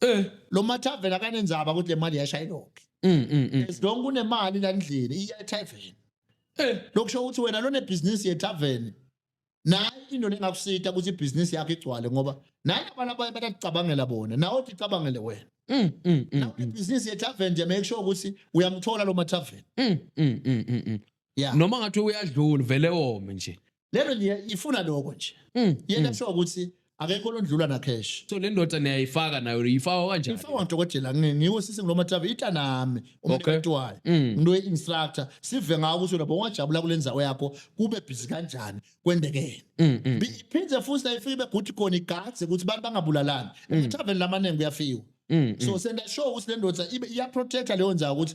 Eh. Lo mathaveni akanenzaba ukuthi le mali yashayelophi. Mm, mm, mm. As long kunemali la ndlini iya ethaveni. Eh. Lokusho ukuthi wena lone business yethaveni naye into lengakusita ukuthi ibhizinisi yakho igcwale ngoba naye abantu abaye batacabangela bona nawe uthi cabangele wena mm, mm, mm, ibhizinisi yethaven nje make sure ukuthi uyamthola lo mathaven yeah. noma ngathi uyadlula vele wome nje lento nje ifuna lokho nje mm. yena mm. sho ukuthi akekho londlula na cash so le ndoda niyayifaka nayo uyifaka kanjani ifaka udokotela ngiwo sisi ngiloma travel ita nami umntu wayo mm. ngino instructor sive ngawo ukuthi lapho ungajabula kulenza yakho kube busy kanjani kwendekene mm, mm. iphinde futhi la ifike beguthi khona igadze ukuthi abantu bangabulalani travel lamaningi kuyafiwa so senda sure ukuthi le ndoda ibe iya protector leyo nzayo ukuthi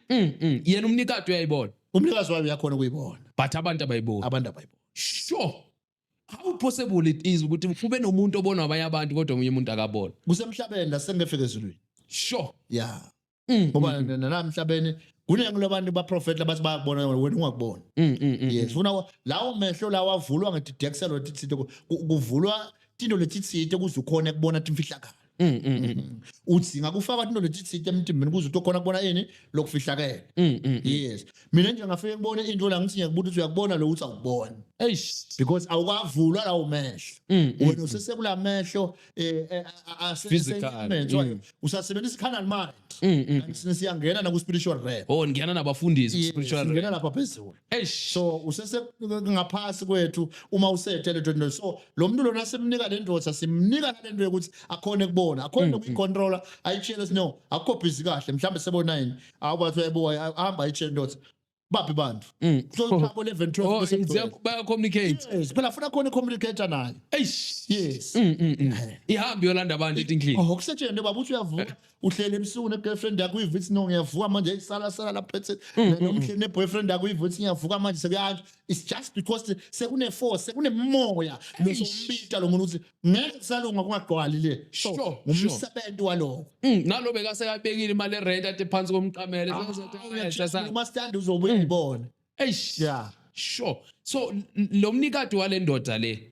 Mm, mm. Yena umnikati uyayibona. Umnikazi wayo uyakhona ukuyibona. But abantu abayiboni. Abantu abayiboni. Sure. How possible it is ukuthi kube nomuntu obona abanye abantu kodwa omunye umuntu akabona. Kusemhlabeni la sengefika ezulwini. Sure. Yeah. Mm, mm, Ngoba mm. nalamhlabeni kuningi labantu baprofeti abathi bayakubona wena wena ungakuboni. Mm, mm, mm. Yes. Funa wa- lawo mehlo lawa avulwa ngedidexelo tithito kuvulwa tinto letitsite kuze ukhone kubona timfihlakalo. Mm, mm, mm, mm. udzinga kufaka into letitsite emtimbeni kuze utokhona kubona ini lokufihlakele Mm, mm, mm. yes mina nje ngafike ngibone into la ngithi ngiyakubuta ukuthi uyakubona lo ukuthi awukuboni Eish. because awukavulwa lawo mehlo Mm, mm. wena usesekula mehlo eh, eh, a- a- ase- Physical, ase-immense, mm. wayo. usasebenzisa i-canal mind Mm, mm. Kanti sine siyangena naku-spiritual realm Oh ngiyana nabafundisi Yes, spiritual. singena lapha phezulu Eish. so usese ngaphasi kwethu uma usethe lento nto so lo muntu lona simnika le ndoda simnika nalento yokuthi akhone kubona akhone Mm, nokuyicontrola ayitshele ukuthi no akukho busy kahle mhlawumbe sebona yini awu bathi yebo ahamba ayitshele ndoda baphi bantu Mm. so lapho 11 Oh, 12 bese it's- kugcwele. baya communicate. yes phela funa khona communicator nayo Eish. yes Mm, mm, mm. Ihambe yolanda abantu etinhlini. oh kusetshenzwe baba uthi uyavuka uhleli ebusuku ne-girlfriend yakho uyiva ithi no ngiyavuka manje eyisalasala lapho ethi mm, mm, nomhleli mm. ne-boyfriend yakho uyiva ithi ngiyavuka manje sekuyanje it's just because sekune-force sekunemoya losombita lo muntu ukuthi ngeke kusalunga kungagcwali le sure ngumsebenzi waloko nalo bekasekabekile imali erent ade phansi komqamele ah, umasitandi uzobe uyibona eish ya sure so lo mnikati wale ndoda le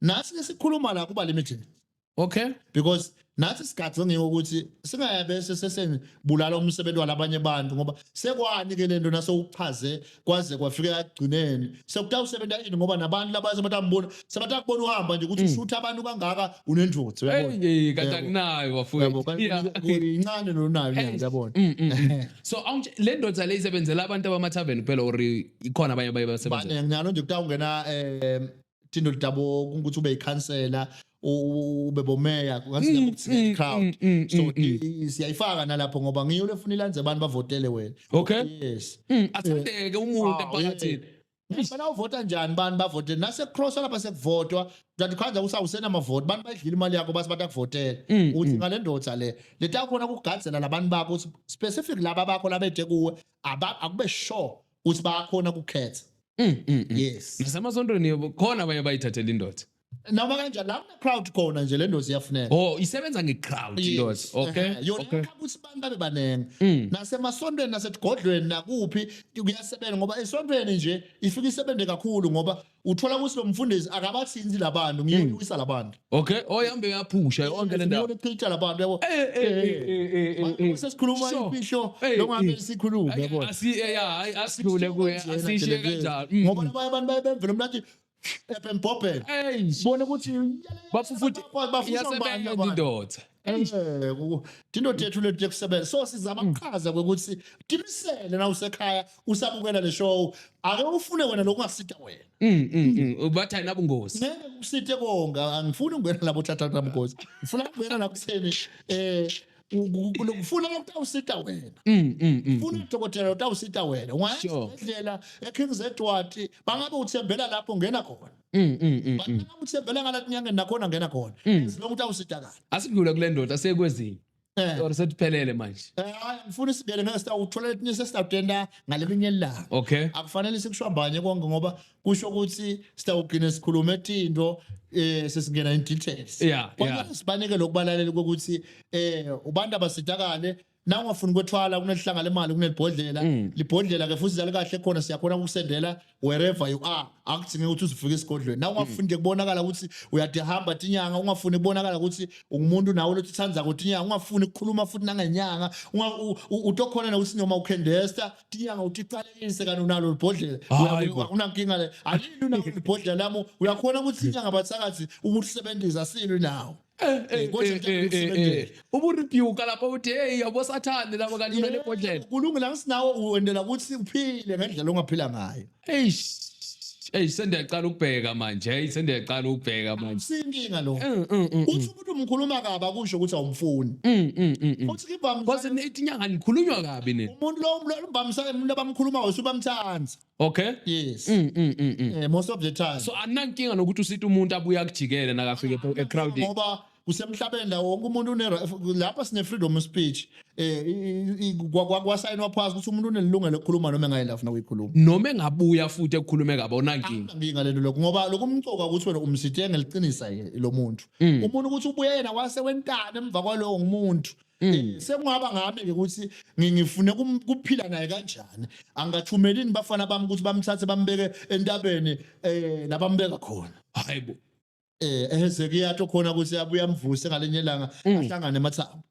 nathi ke sikhuluma la kuba limited okay because nathi sigadze ngeke ukuthi singayabese seseni bulala umsebenzi walabanye abantu ngoba sekwani ke lento nasewuchaze kwaze kwafika ekugcineni sekutawusebenza ini ngoba nabantu labaye sebatambona sebatakubona uhamba nje ukuthi mm. ushutha abantu kangaka unenjotho uyabona hey kanti akunayo bafowethu incane nonayo uyabona mm, mm, so le ndoda le isebenzela abantu abamathaveni kuphela or ikhona abanye abaye basebenza baningi nalo nje kutawungena um Tindo Litabo ukuthi ube ikhansela ube bomeya kungathi crowd so siyayifaka nalapho ngoba ngiyo lefuna ilanze abantu bavotele wena okay yes athandeke umuntu emphakathini Ngifuna uvota njani bani bavotele nase cross lapha sekuvotwa kanti khanja usawusena amavoti bantu bayidlile imali yakho base batakuvotela mm, uthi mm. ngale ndoda le letakhona kugadzela labantu bakho specific laba bakho labethe kuwe akube sure uthi bayakhona ukukhetha Mm, mm, mm. yes nasemasontweni yebo khona abanye bayithathela indoda noma kanjani la kune crowd khona nje le ndozi iyafuneka oh isebenza ngecrowd indoda Yes. okay Ehhe. yona okay ikhaba ukuthi abantu babe baningi Mm. nasemasontweni nasesigodlweni nakuphi kuyasebenza ngoba esontweni nje ifike isebenze kakhulu ngoba uthola ukuthi lo mfundisi akabathinti labantu ngiyona hmm. uwisa labantu okay oyihambe yaphusha yonke le ndawo ngiyona labantu yabo eh, eh, eh, sesikhuluma imfihlo longabe sikhulume yabo hayi asidlule kuye asishiye kanjalo hmm. ngoba abanye abantu bayebemvela umlathi ebembhobhela bona ukuthi bafufuthi bafuna ubani indoda Eh, ku- tindoda yethu leti tekusebenza so sizama kuchaza kwekuthi timisele na usekhaya usabukela le show ake ufune wena lokungasita wena Mm, mm, mm. Bathi ayinabungozi. ngeke kusite konga angifuni ukungena labo thathatha mgozi ngifuna ukungena la kutheni eh ku- ku- ku- ngifuna lokutawusita wena Mm, mm, mm. funa udokotela utawusita wena Sure. ungayendlela ekings edward bangabe uthembela lapho ngena khona Mm, mm, mm, but mm. noma uthembela ngalathi nyangeni nakhona ngena khona Mm. as long ukuthi awusidakala asidlule kule ndoda sekwezinye Eh. or sesiphelele manje Eh, hayi ngifuna isibele ngeke sitawuthola letinye sesitawutenda ngalelinye ilanga okay akufanele sikushwambanye konke ngoba kusho ukuthi sitawugcine sikhulume tinto eh sesingena in details Yeah, yeah. Kwanele sibanike lokubalalela ukuthi eh ubantu abasidakale na ungafuni kwethwala kunelihlanga lemali kunelibhodlela mm. libhodlela ke futhi zali kahle khona siyakhona ukusendela wherever you are akudzinge ukuthi uzifike esigodlweni na ungafuni nje kubonakala ukuthi uyadehamba tinyanga ungafuni kubonakala ukuthi ungumuntu nawe lothi uthanda kotinyanga ungafuni ukukhuluma futhi nangenyanga utokhona nokuthi noma ukhendesta tinyanga utiqalekise kanti unalo libhodlela akunankinga le alini unalo libhodlela lami uyakhona ukuthi inyanga bathakathi ukusebenzisa silo nawo Eh, eh, eh, eh, eh, eh. uburebuka lapho uthi hey yabo sathane labo kalimele ebhodlela kulungile angisinawo uwendela ukuthi uphile ngendlela ongaphila ngayo eish Hey sendiyaqala ukubheka manje. Hey sendiyaqala ukubheka manje. Sinkinga lo. Mm, mm, mm, Uthi umuntu umkhuluma kabi akusho ukuthi awumfuni. Futhi kibamsa. Kodwa ithi inyanga nikhulunywa kabi nini? Umuntu lo umbamsa umuntu abamkhuluma wase ubamthanda. Okay? Yes. Mm, mm, mm, mm. Eh, most of the time. So anankinga nokuthi usita umuntu abuye akujikele nakafike epo- ecrowding. ngoba kusemhlabeni la wonke umuntu une lapha sine freedom of speech eh i- i- kwa- kwa- kwasayinwa phasi ukuthi umuntu unelungelo lokukhuluma noma engayela afuna ukuyikhuluma Noma engabuya futhi ekukhulume kabi onankinga. nginga lento lokho ngoba lokhu umcoka ukuthi wena umsithe ngeliqinisa ye- lo muntu umuntu ukuthi ubuye yena wase wentana emva kwalowo ngumuntu Mm. Eh, sekungaba ngami-ke ukuthi ngifune kuphila naye kanjani angathumelini bafana bami ukuthi bamthathe bambeke entabeni um nabambeka khona hayi bo um ehezekiyato khona ukuthi abuye amvuse ngalenye ilanga mm. ahlangane emathambo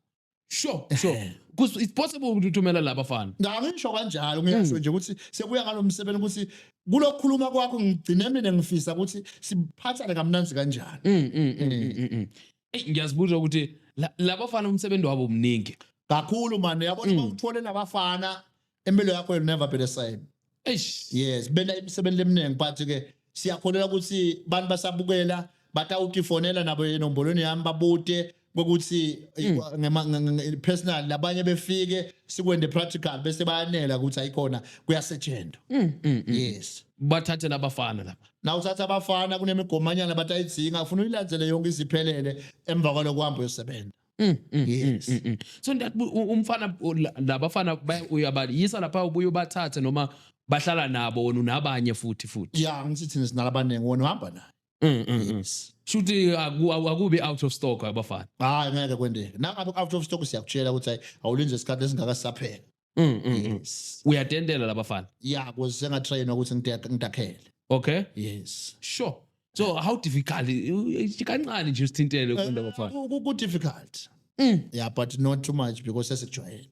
sure sure eh. because it's possible ukuthi uthumela laba fana ngangisho kanjalo ngiyasho mm. nje ukuthi sekuya ngalo msebenzi ukuthi kulokukhuluma kwakho ngigcine mina ngifisa ukuthi siphathane kamnanzi kanjani mm, mm, Eyi, ngiyazibuza ukuthi la- labafana umsebenzi wabo mningi kakhulu mani yabona Mm. uma uthole nabafana impilo yakho will never be the same eish yes bela imisebenzi eminingi but ke siyakholelwa ukuthi abantu basabukela batawutifonela nabo enombolweni yami babute kokuthi Mm. eh, ngema- nge- nge- nge- personal labanye befike sikwende practical bese bayanela ukuthi ayikhona kuyasetshenzwa Mm, yes bathathe labafana lapha na uthatha abafana kunemigomanyana bathi ayidzinga ufuna uyilandzele yonke iziphelele emva kwaloko uhamba uyosebenza Mm, mm, Yes. mm, mm, mm. so ndat umfana u- la- labafana baya- uyabayisa lapha ubuye ubathathe noma bahlala nabo wena unabanye futhi futhi ya ngithi thina sinala abaningi wona uhamba naye Mm, mm, mm. yes shuthi aku- aku- akubi out of stock abafana hayi ngeke kwendeke nangabe out of stock siyakutshela ukuthi hayi awulinze isikhathi esingaka sisaphela Mm, mm, mm. yes uyadendela labafana ya kuze ngatrain ukuthi ngide- ngidakhele okay yes sure so how difficult Eh, kancane nje usithintele Eh, kunda bafana ku- ku- ku difficult Mm. yeah but not too much because sesikujwayele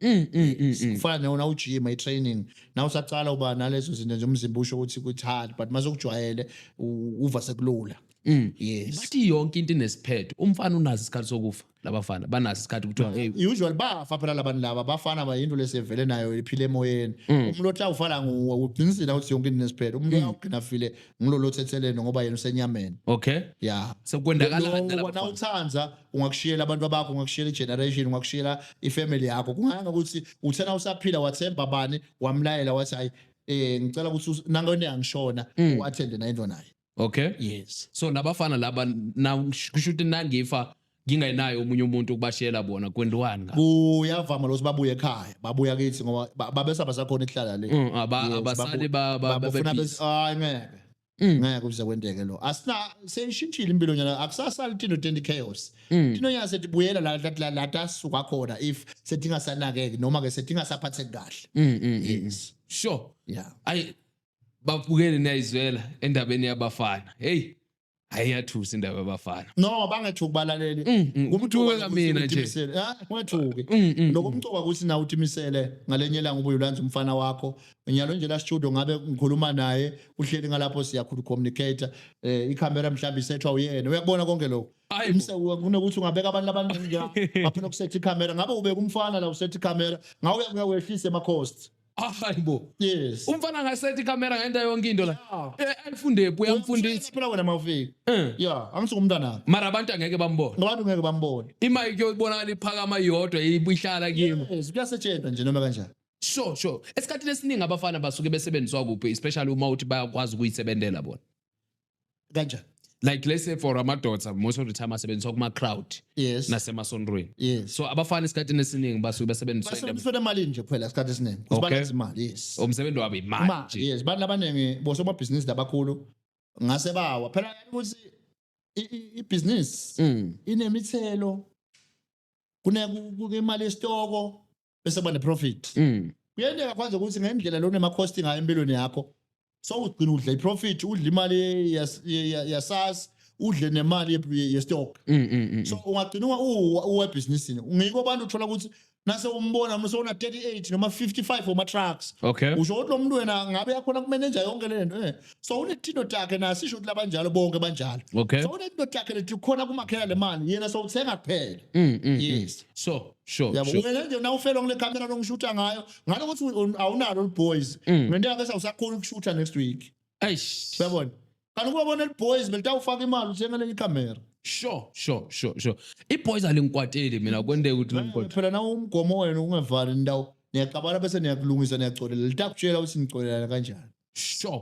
Mm, mm, mm, mm. kufana newona ujima i-training na usaqala uba nalezo zinto nje umzimba usho ukuthi kuthi hard but mase ukujwayele u- uva sekulula Mm. yes bathi yonke into inesiphetho umfana unazo isikhathi sokufa labafana banaso isikhathi kuthiwa hey usually bafa phela labantu laba bafana bayinto lesevele nayo iphile emoyeni mm. umuntu othi awufala nguwe uqinisile ukuthi yonke into nesiphele umuntu mm. awugcina file ngilolo thethelene ngoba yena usenyameni okay yeah sekwendakala kanjani wona uthanda ungakushiyela abantu bakho ungakushiyela igeneration ungakushiyela ifamily yakho kunganga ukuthi uthena usaphila wathemba bani wamlayela wathi hayi eh ngicela ukuthi nangone angishona mm. wathende nayo into nayo okay yes so nabafana laba na kusho ukuthi nangifa ngingayinayo omunye umuntu ukubashela bona kwendiwani ngabe kuyavama lokuthi babuye ekhaya babuya kithi ngoba ba- babesaba sakhona ihlala le Mm, aba- Yes, abasali babu- ba- ba- babefuna babe bes- hayi ngeke Mm. ngeke kuze kwenteke lo asina seyishintshile impilo nyana akusasali tino tende chaos Mm. tino nyana setibuyela la la- la la tasuka khona if setingasanakeki noma ke setingasaphatheki kahle Mm, mm, mm. yes sure yeah ayi babukele niyayizwela endabeni yabafana hey ayiyathusa indaba yabafana no bangethuki balaleli Mm, mm. Kumthuke kamina nje. ungethuki Mm, mm, lokho umcoka ukuthi nawe utimisele ngalenye ilanga ubuye ulanze umfana wakho nyalo nje la studio ngabe ngikhuluma naye uhleli ngalapho siyakhulu communicator eh ikhamera mhlawumbe isethwa uyena uyakubona konke lokho Hayi bo. Imse kunokuthi ungabeka abantu abaningi nje ngapha nokusetha ikhamera ngabe ubeka umfana la usetha ikhamera ngawe uyakuya wehlise ama cost Ah, hayi bo yes umfana angasethi camera ngenta yonke into la Eh, ayifunde phi uyamfundisa phela wena mawufika Eh. ya angisuke umntanami mara abantu angeke bambone ngabantu ngeke bambone imayike yokubonakala iphakama yodwa ibuhlala kimi yes kuyasetshenzwa nje noma kanjani sure sure esikhathini esiningi abafana basuke besebenziswa kuphi especially uma uthi bayakwazi ukuyisebenzela bona kanjani like let's say for amadoda most of the time asebenziswa kuma crowd yes nasemasondweni yes so abafana isikhathi esiningi basuke basebenziswa basebenziswa imali nje kuphela isikhathi esiningi ukuthi okay. balenze imali yes umsebenzi wabo imali nje yes bantu abaningi bosomabhizinisi labakhulu ngase bawa phela ukuthi ibhizinisi mm. inemithelo kunekuyimali yesitoko bese kuba neprofit mm. kuyenzeka kwanze ukuthi ngendlela lona emacosti ngayo empilweni yakho so ugcina udla iprofit udla imali yasas udle nemali yestock mm, mm, so ungagcina uwebhizinisini ngiko abantu uthola ukuthi nase umbona mse una 38 noma 55 oma trucks okay usho ukuthi lo muntu wena ngabe yakhona kumenenja yonke le nto eh so unethindo takhe nasi isho ukuthi labanjalo bonke banjalo okay so unethindo takhe lethi khona kumakhela le mali yena so uthenga kuphela mm, mm, mm. yes so Sure, yabo sure. wena nje nawufelwa ngile camera longishuta ngayo ngalo ukuthi u- awunalo liboys Mm. ngento yakhe sawusakhona ukushuta next week Eish. uyabona kanti ukuba bona liboys belitawufaka imali uthenga lenye icamera Sure, sure, sure, sure. Iboys alingikwateli mina kwendeka ukuthi lingikwatele. phela nawo umgomo wena ungavali indawo niyaqabana bese niyakulungisa niyacolela litakutshela ukuthi nicolelana kanjani Sure.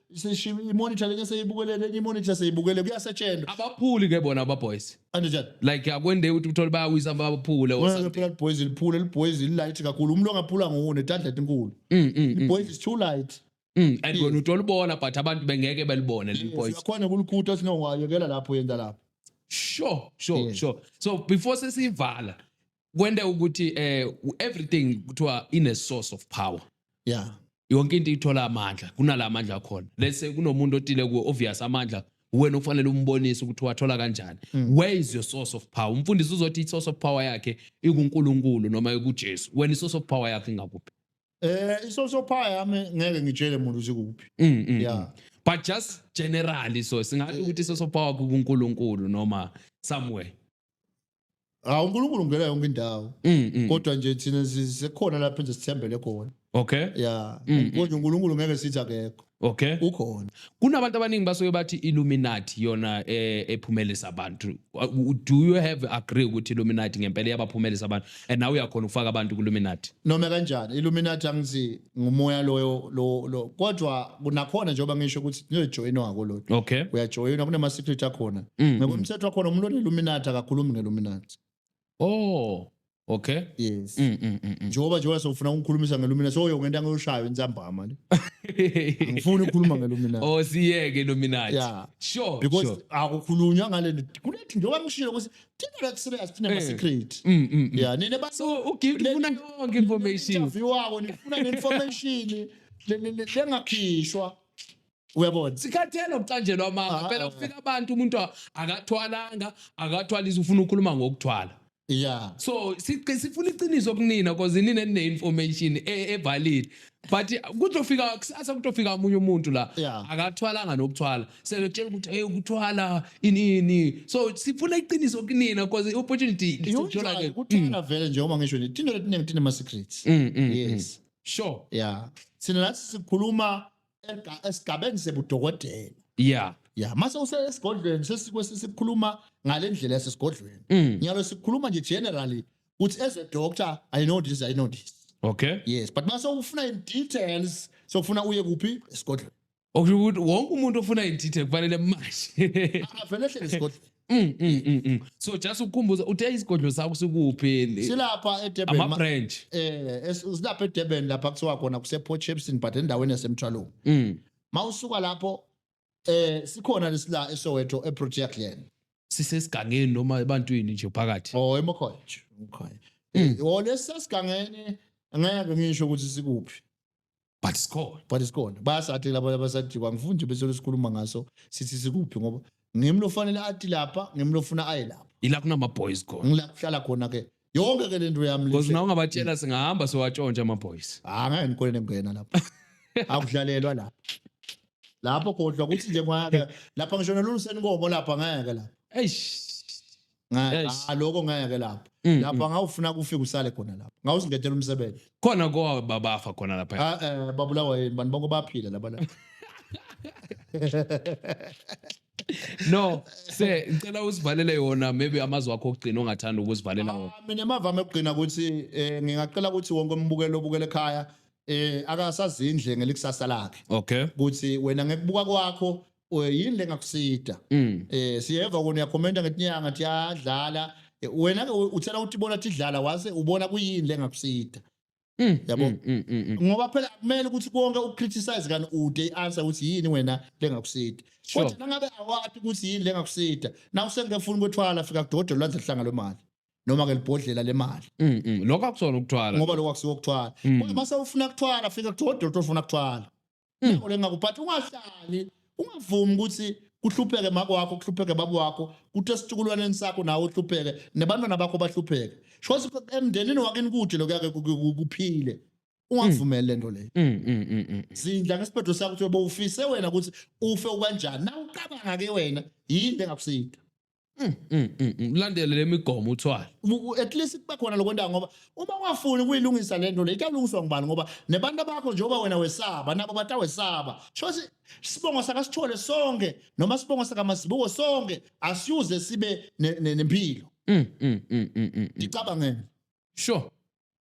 seshiya imonitor lenye seyibukele lenye imonitor seyibukele kuyasetshenzwa abaphuli ke bona ababoys anjani like akwende ukuthi uthole bayawisa baphule or Wena something phela liboys liphule liboys lilight kakhulu umuntu ongaphula nguwo netandlet inkulu Mm, mm, mm, boys is too light mm. and wena utolibona but abantu bengeke belibone leli boys yakhona kulikhutha sino wayekela lapho yenda lapho sure sure Yes. sure so before sesivala kwente ukuthi eh everything kuthiwa ine source of power yeah yonke into ithola amandla kunala amandla akhona lese kunomuntu otile ku obvious amandla wena ufanele umbonise ukuthi wathola kanjani mm. where is your source of power umfundisi uzothi i source of power yakhe ikuNkulunkulu noma ikuJesu wena i source of power yakhe ingakuphi eh i source of power yami ngeke ngitshele umuntu ukuthi kuphi mm, mm, yeah but just generally so singathi ukuthi i source of power kuNkulunkulu noma somewhere hawu unkulunkulu ungena yonke indawo Mm, mm. kodwa nje thina si- sikhona lapho nje sithembele khona Okay. ya Mm, mm. kodwa unkulunkulu ngeke sithi akekho Okay. ukhona Kunabantu abaningi basuke bathi Illuminati yona eh, ephumelisa abantu. Uh, Do you have agree ukuthi Illuminati ngempela iyabaphumelisa abantu? And nawe uyakhona ukufaka abantu ku Illuminati. noma kanjani illuminati angithi ngumoya loyo lo lo kodwa kunakhona njengoba ngisho ukuthi niyojoyina ngakoloti okay uyajoyina kunama secret akhona mm, ngoba mm. umthetho wakhona umuntu oneluminati akakhulumi ngeluminati oh okay yes mm, mm, mm, mm. njengoba njengoba sofuna ukukhulumisa ngelumina so yo ngento angiyoshaya insambama le ngifuna ukukhuluma ngelumina oh siyeke illuminati Yeah. sure because sure. akukhulunywa ngale nto kunethi njengoba ngishilo ukuthi thina like serious thina Eh. ma secret Mm, mm, mm. yeah nina ba So uGift ufuna yonke information. interview wako nifuna ne information le- le- le- lengakhishwa uyabona sikhathele ukucanjelwa amanga Ah, phela ah. kufika abantu umuntu a- akathwalanga akathwalisa ufuna ukukhuluma ngokuthwala yeah so siqi- sifuna iqiniso kunina cause nina nine-information e- evalid but kuzofika kusasa kutofika omunye umuntu la yeah. akathwalanga nokuthwala sekutshela ukuthi hey ukuthwala inini so sifuna iqiniso kunina because i-opportunity isithola ke kuthwala mm. vele nje uma ngisho ni tino letine tine ma secrets mm, mm, yes mm. sure yeah sina nathi sikhuluma esigabeni sebudokotela yeah ya mase usesigodlweni sesikhuluma ngale ndlela yasesigodlweni mm. nyalo sikhuluma nje generally uthi as a doctor i know this i know this okay yes but mase ufuna in details sokufuna uye kuphi esigodlweni okusho ukuthi wonke umuntu ofuna i-detail kufanele manje avele ehlele esigodlweni Mm, mm, mm, mm. so just ukukhumbuza uthe isigodlo sakho sikuphi silapha edurban ama-branch eh es- silapha edurban lapha kuthiwa khona kuseportshepson but endaweni yasemthwalong mm. ma usuka lapho eh sikhona lesila eSoweto eProtea Glen sisesigangeni noma ebantwini nje phakathi oh eMokhoye nje eMokhoye Mm. oh lesasigangene ngeke ngisho ukuthi sikuphi but sikhona but isikhona bayasathi labo abasajikwa ngifuna nje bese sikhuluma ngaso sithi sikuphi ngoba ngimlo fanele athi lapha ngimlo funa aye lapha ila kunama boys khona ngila kuhlala khona ke yonke ke lento yami Because nawe ungabatshela singahamba siwatshontsha ama boys. Ah ngeke ngikole nemngena lapho. Akudlalelwa lapho. Lapho kodwa kuthi nje ngeke lapha ngisho nolungiseni inkomo lapha ngeke lapho. Eish. Ngeke ah, lokho ngeke lapho. Mm, mm. Lapha ngawufuna kufika usale khona lapho. Ngawusingethela umsebenzi. Khona kwa babafa khona lapha. Ah eh babulawa yini bantu bonke baphila laba lapha. no se ngicela usivalele yona maybe amazwi akho okugcina ongathanda ukusivalela wona Ah, mina amavama okugcina ukuthi eh, ngingacela ukuthi wonke umbukeli obukela ekhaya eh akasazindle ngelikusasa lakhe okay ukuthi wena ngekubuka kwakho eh, yini lengakusida mm eh siyeva kona uyakhomenta ngetinyanga thi yadlala Eh, wena ke u- uthela ukuthi bona tidlala wase ubona kuyini lengakusida Mm, yabo mm, mm, mm, mm. ngoba phela kumele ukuthi konke ukucriticize kani ude i-answer ukuthi yini wena lengakusida Sure. kodwa nangabe awati ukuthi yini lengakusida nawe sengingefuni kwethwala fika kudodo lwandle hlanga lwemali noma-ke libhodlela lemali Mm, mm. lokho akusona ukuthwala ngoba lokho akusiwo kuthwala Mm. kodwa uma sewufuna kuthwala fika kudodo lotofuna kuthwala Yabo le ngakho but ungahlali ungavumi ukuthi kuhlupheke mako wakho kuhlupheke baba wakho kuthi esitukulwaneni sakho nawe uhlupheke nebantwana bakho bahlupheke shothi emndenini wakini kude lokuyake kuphile ungavumeli le nto leyo Mm, mm, mm, mm. zindla ngesiphetho sakho ukuthi bowufise wena ukuthi ufe ukanjani na ucabanga ke wena yini engakusinda Mm, mm, mm, mm. Landele lemigomo uthwala. Uku- at least kuba khona lokwenta ngoba uma ungafuni ukuyilungisa le nto le itawulungiswa ngubani ngoba nebantu bakho njengoba wena wesaba nabo batawesaba shothi isibongo sakasithole sonke noma isibongo sakamazibuko sonke asiyuze sibe ne- ne- nempilo Mm, mm, mm, mm, mm, mm. ngicabangeni Sure.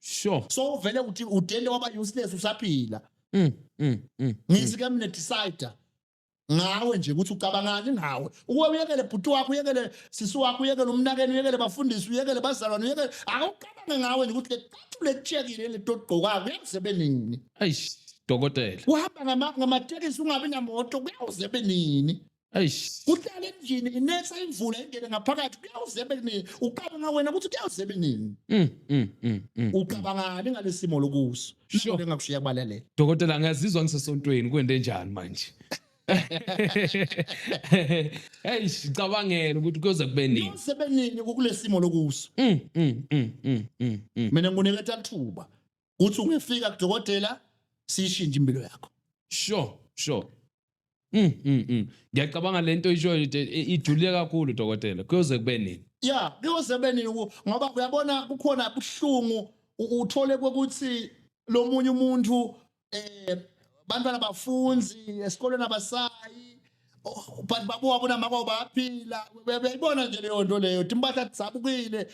sure so uvele uthi udele waba useless usaphila mm, mm, mm, ngithi ke mina decide ngawe nje ukuthi ucabangani ngawe ukuba uyekele bhuti wakho uyekele sisi wakho uyekele umnakeni uyekele bafundisi uyekele bazalwane uyekele awucabange ngawe nje ukuthi leqathu letshekile letogqokayo kuyakuze benini eish dokotela uhamba ngamatekisi ungabi namoto kuyakuze benini Eish. Kuhlala endlini inetha imvula ingene ngaphakathi kuyawuzebe kunini ucabanga wena ukuthi kuyawuzebe kunini Mm, mm, mm, mm. ucabangani ngalesimo lokuso Sure. Nami ngakushiya kubalele Dokotela ngiyazizwa ngisesontweni kwende njani manje? Hey, sicabangela ukuthi kuyoze kube nini. kuyawuzebe nini kulesimo lokuso Mm, mm, mm, mm, mm, mm. mina ngikuneketha lithuba uthi ungefika kudokotela siyishintshe impilo yakho sure sure Mm, mm, mm. Ngiyacabanga lento ishoyo ijulile kakhulu dokotela. Kuyoze kube nini? Yeah, kuyoze kube nini ngoba uyabona kukhona ubuhlungu uthole ukuthi lo munye umuntu eh bantwana bafunzi esikoleni abasayi oh, but babo wabona mako baphila bebona nje leyo nto leyo timpahla tisabukile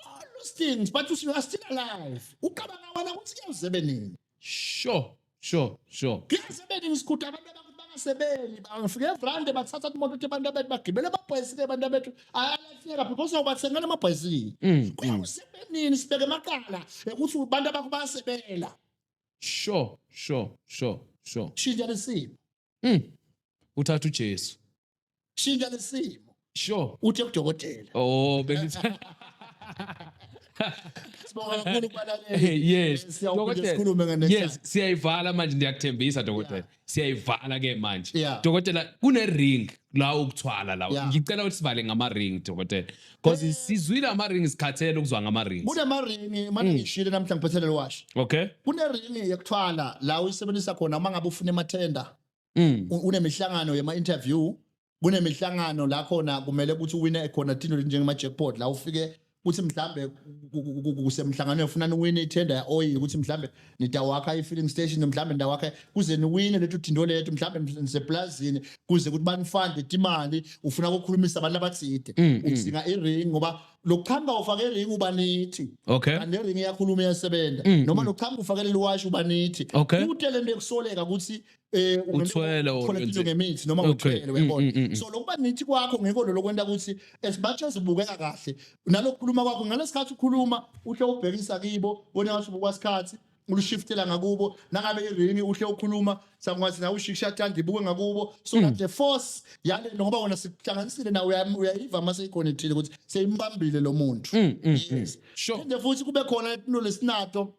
all those things but you are still alive ucabanga wena ukuthi kuyoze benini sure sure sure kuyoze benini sikhutha abantu abakuthi bangasebenzi bafike evrande bathatha imoto ukuthi abantu abethu bagibele amabhayisikili abantu abethu ayalahleka because awubathengela amabhayisikili Mm, kuyoze benini sibeke emaqala ukuthi abantu abakho bayasebela sure sure sure sure shintsha lesimo Mm. Uthatha uJesu. Shintsha lesimo. Sure. Uthe kudokotela. Oh, bengithi Sibonga kakhulu kubalalela. yes. Siyawuphinde Dokotela. sikhulume nge next Yes, time. siyayivala manje ndiyakuthembisa dokotela. Siyayivala ke manje. Yeah. Dokotela kune ring la ukuthwala la. Yeah. Ngicela ukuthi sivale ngama ring dokotela. Because sizwile ama ring sikhathele ukuzwa ngama rings. Kune ma ring manje Mm. ngishile namhla ngiphethelele wash. Okay? Kune ring yokuthwala la uyisebenzisa khona uma ngabe ufuna emathenda. Mm. u- unemihlangano yema interview kunemihlangano la khona kumele ukuthi uwine khona thino njengema jackpot la ufike ukuthi mhlambe ku- ku- ku- kusemhlanganweni ufuna uwine itender ya oil ukuthi mhlambe nitawakha i-filling station mhlawumbe nitawakha kuze niwine lethu thinto lethu mhlawumbe niseplazini kuze kuthi banifande timali ufuna kukhulumisa abantu abathide mm, mm. udzinga i-ring ngoba lokuqhamuka ufake i-ring uba nithi okay. kanti le-ring iyakhuluma iyasebenza mm, noma lokuqhamuka ufakele liwashi uba nithi okay. kute le nto yokusoleka ukuthi eh Uthwele or uthola into wenze- ngemithi noma Okay. uthwele Mm, uyabona mm, mm, mm. so lokuba nithi kwakho ngekho lelo kwenta ukuthi as much as ubukeka kahle nalokukhuluma kwakho ngalesikhathi ukhuluma uhle ubhekisa kibo bona ngathi ubukwasikhathi ulushiftela ngakubo nangabe irini uhle ukhuluma sakwazi nawe ushisha thanda ibuke ngakubo so Mm. that the force yale ngoba wona sikuhlanganisile nawe uya- uyayiva uma seyikhonethile ukuthi seyimbambile lo muntu Mm, mm, mm. yes Sure. phinde futhi kube khona into lesinato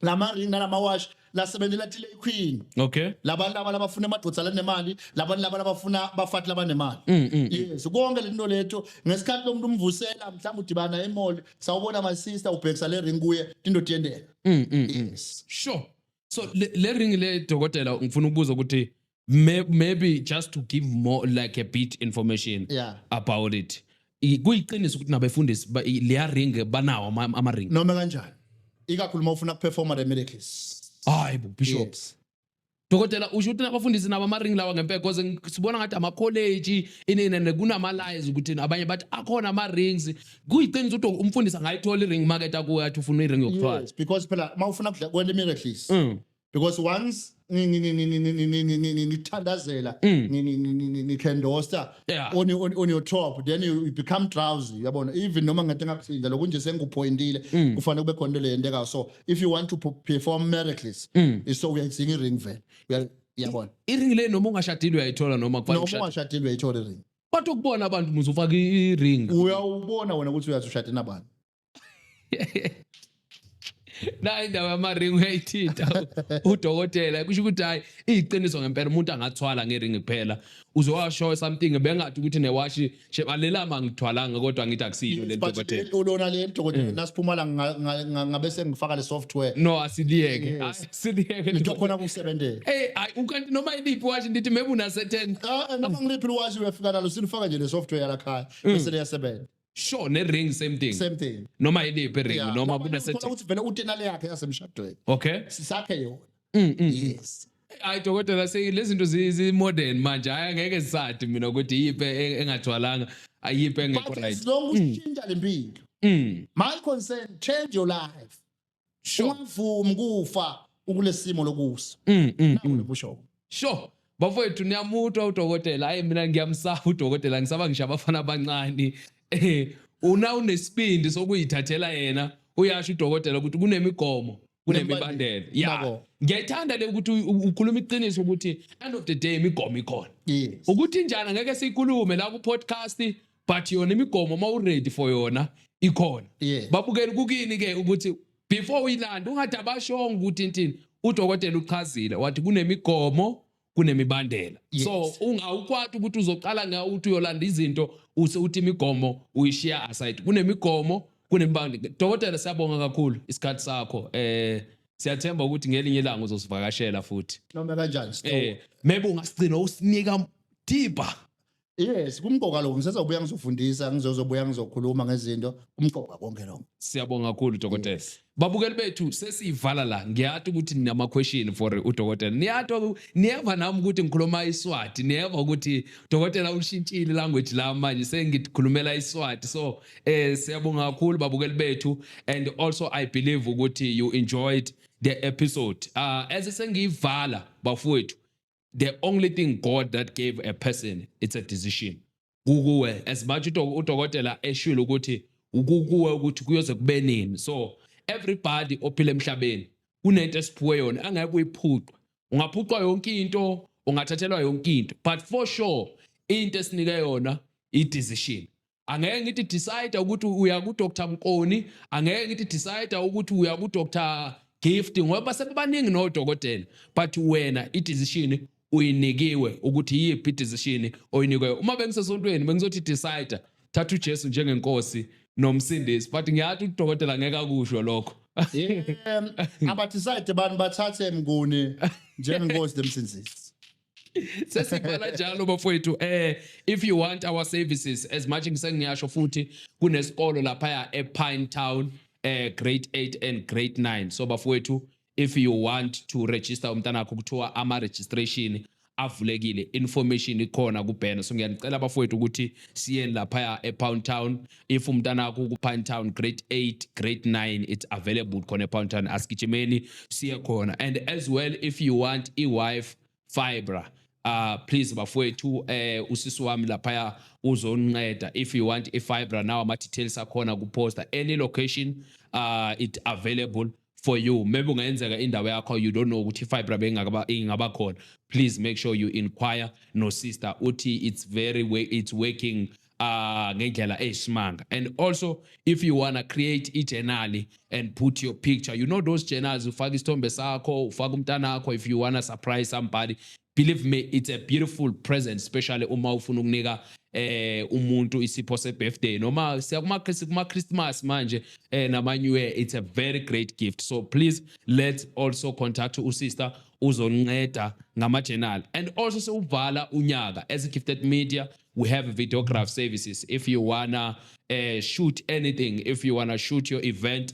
lama ring nalama wash lasebenzela tile queen okay labantu laba labafuna amadoda lanemali labantu laba labafuna bafati labanemali mm, mm, mm. yes konke lento letho ngesikhathi lomuntu umvusela mhlawumbe udibana emall sawubona my sister ubhekisa le ring kuye into tiyendeka yes sure so le ring le dokotela ngifuna ukubuza ukuthi May- maybe just to give more like a bit information Yeah. about it I- kuyiqiniso ukuthi nabefundisi ba- i- leya ring banawo ama- ama-ring noma kanjani ikakhulu uma ufuna kuperforma the miracles hayi bo bishop Yes. dokotela usho ukuthi nabafundisi nabo ama-ring lawa ngempela because ngi- sibona ngathi amakholeji ininene kunama-lies ukuthi abanye bathi akhona ama-rings kuyiqiniso ukuthi umfundisi angayithola i-ring market akuwe athi ufuna i-ring yokuthwala Yes, because phela uma ufuna kudla kwele miracles Mm. because once nithandazela nithendosta on your top then you become drowsy yabona even noma ngade ngakuthinda lokhu nje sengikuphoyintile mm. kufanele kube khona into leyentekayo so if you want to perform miracles mm. so uyayidzinga i-ring vele yabona i-ring le noma ungashadile uyayithola noma kufanele ungashadile uyayithola i-ring kodwa ukubona abantu muze ufake i-ring uyawubona wena ukuthi uyazi ushade nabani na indawo yamaringi uyayithinta udokotela kusho ukuthi hayi iyiqiniso ngempela umuntu angathwala ngeringi kuphela uzowasho something bengathi ukuthi newashi shebalela mangithwalanga kodwa ngithi akusilo le dokotela ulona le dokotela mm. nasiphumala ngabe sengifaka le software no asiliyeke asiliyeke into khona kusebenzela hey hayi ukanti noma iliphi washi ndithi maybe una certain ah, ah noma ngiliphi washi uyafika nalo silifaka nje le software yalakhaya mm. bese liyasebenza sure ne ring same thing same thing noma iliphi ring yeah. noma kuna set ukuthi vele utenale yakhe yasemshadweni okay sisakhe yona mm, mm. yes hayi dokotela lezi zinto zi-modern manje hayi angeke zisadi mina ukuthi yiphi e-, engathwalanga ayiphi engekho right as long ushintsha mm. le mpilo mm. my concern change your life sure ungavumi kufa ukulesimo lokusa mm, mm, nawo mm. lobushoko sure bafowethu niyamutwa udokotela hayi mina ngiyamsaba udokotela ngisaba ngisho abafana abancane eh una unesibindi sokuyithathela yena uyasho udokotela ukuthi kunemigomo kunemibandela ya ngiyayithanda le ukuthi ukhuluma iqiniso ukuthi end of the day imigomo ikhona ukuthi njani ngeke siyikulume la ku-podcast but yona imigomo uma uready for yona ikhona Yeah. babukela kukini ke ukuthi before uyilanda ungathi abashongo ukuthi intini udokotela uchazile wathi kunemigomo kunemibandela Yes. so ungawukwati ukuthi uzoqala ngawo ukuthi uyolanda izinto use uthi imigomo uyishiya aside kunemigomo kunemibandela dokotela siyabonga kakhulu isikhathi sakho eh siyathemba ukuthi ngelinye ilanga uzosivakashela futhi noma kanjani eh maybe ungasigcina usinika deeper Yes, kumqoka lo ngisezobuya ngizofundisa ngizozobuya ngizokhuluma ngezinto kumqoka konke lo. Siyabonga kakhulu dokotela. Babukeli bethu sesiyivala la ngiyati ukuthi ninama question for udokotela. Niyati niyeva nami ukuthi ngikhuluma iSwati, niyeva ukuthi dokotela ushintshile language la manje sengikhulumela iSwati. So eh siyabonga kakhulu babukeli bethu and also I believe ukuthi you enjoyed the episode. Uh, as sengiyivala bafowethu the only thing God that gave a person it's a decision kukuwe as much udokotela eshilo ukuthi ukukuwe ukuthi kuyoze kube nini so everybody ophila emhlabeni kunento esiphiwe yona angeke uyiphuqwe ungaphuqwa yonke into ungathathelwa yonke into but for sure into esinike yona i-decision angeke ngithi decide ukuthi uya ku Dr Mkoni angeke ngithi decide ukuthi uya ku Dr Gift ngoba sebebaningi no dokotela but wena i decision uyinikiwe ukuthi yiphi decision oyinikiwe uma bengisesontweni bengizothi decide thatha uJesu njengenkosi nomsindisi but ngiyathi udokotela ngeke akusho lokho um abathi side abantu bathathe mnguni njengenkosi nemsindisi sesibhala njalo bafowethu eh if you want our services as much ngisengiyasho futhi kunesikolo lapha ya ePine Town eh grade 8 and grade 9 so bafowethu if you want to register umntana wakho kuthiwa ama registration avulekile information ikhona kuBhena so ngiyanicela bafowethu ukuthi siyeni lapha ya ePound Town if umntanakho uku-pine town grade 8 grade 9 it's available khona e-pine town asigijimeni siye khona and as well if you want i-wife fibra uh please bafowethu eh usisi wami laphaya uzoninceda if you want i-fibra now ama-details akhona kuposta any location uh it available for you maybe ungayenzeka indawo yakho you don't know ukuthi fibra bengakaba ingaba khona please make sure you inquire no sister uthi it's very way it's working uh ngendlela eyisimanga and also if you wanna create i-journal and put your picture you know those journals ufaka isithombe sakho ufaka umntana wakho if you wanna surprise somebody believe me it's a beautiful present especially uma ufuna ukunika eh umuntu isipho se birthday noma siya kuma kuma Christmas manje eh nama new year it's a very great gift so please let's also contact u sister uzonceda ngama journal and also sewuvala unyaka as a gifted media we have videograph services if you wanna uh, shoot anything if you wanna shoot your event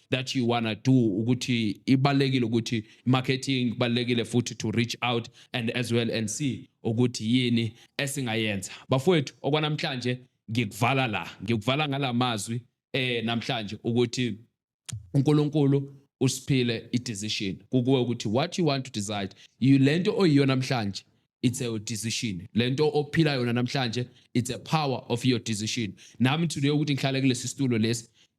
that you wanna do ukuthi ibalekile ukuthi marketing balekile futhi to reach out and as well and see ukuthi yini esingayenza bafowethu okwanamhlanje ngikuvala la ngikuvala ngalamazwi eh namhlanje ukuthi uNkulunkulu usiphile i-decision kukuwe ukuthi what you want to decide you lento oyiyo namhlanje it's a decision lento ophila yona namhlanje it's a power of your decision nami today ukuthi ngihlale kulesi situlo lesi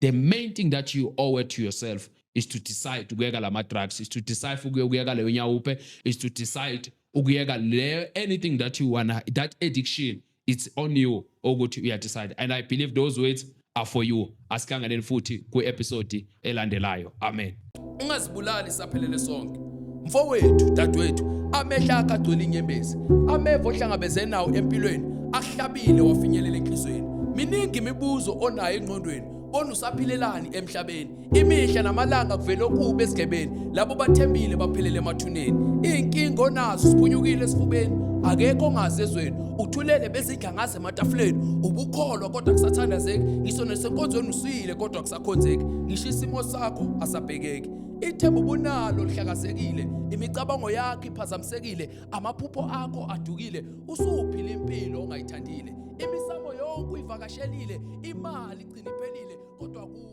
the main thing that you owe to yourself is to decide ukuyeka lama drugs is to decide ukuyeka leyo nyawupe is to decide ukuyeka le anything that you wanna that addiction it's on you ukuthi uya decide and i believe those words are for you asikhangeleni futhi kwi episode elandelayo amen ungazibulali saphelele sonke mfowethu dadwethu amehlo akhe agcwele inyembezi ameva ohlangabezene nawo empilweni ahlabile wafinyelela enhlizweni miningi imibuzo onayo engqondweni bona usaphilelani emhlabeni imihla namalanga kuvele okubi esigebeni labo bathembile baphelele emathuneni iy'nkinga onazo siphunyukile esifubeni akekho ongazi ezweni uthulele bezidla ngaze ematafuleni ubukholwa kodwa kusathandazeki ngisho nesenkonzweni usile kodwa akhonzeki ngisho isimo sakho asabhekeki ithemba ubunalo lihlakazekile imicabango yakho iphazamisekile amaphupho akho adukile usuphila impilo ongayithandile imisamo yonke uyivakashelile imali igcina iphelile kodwa ku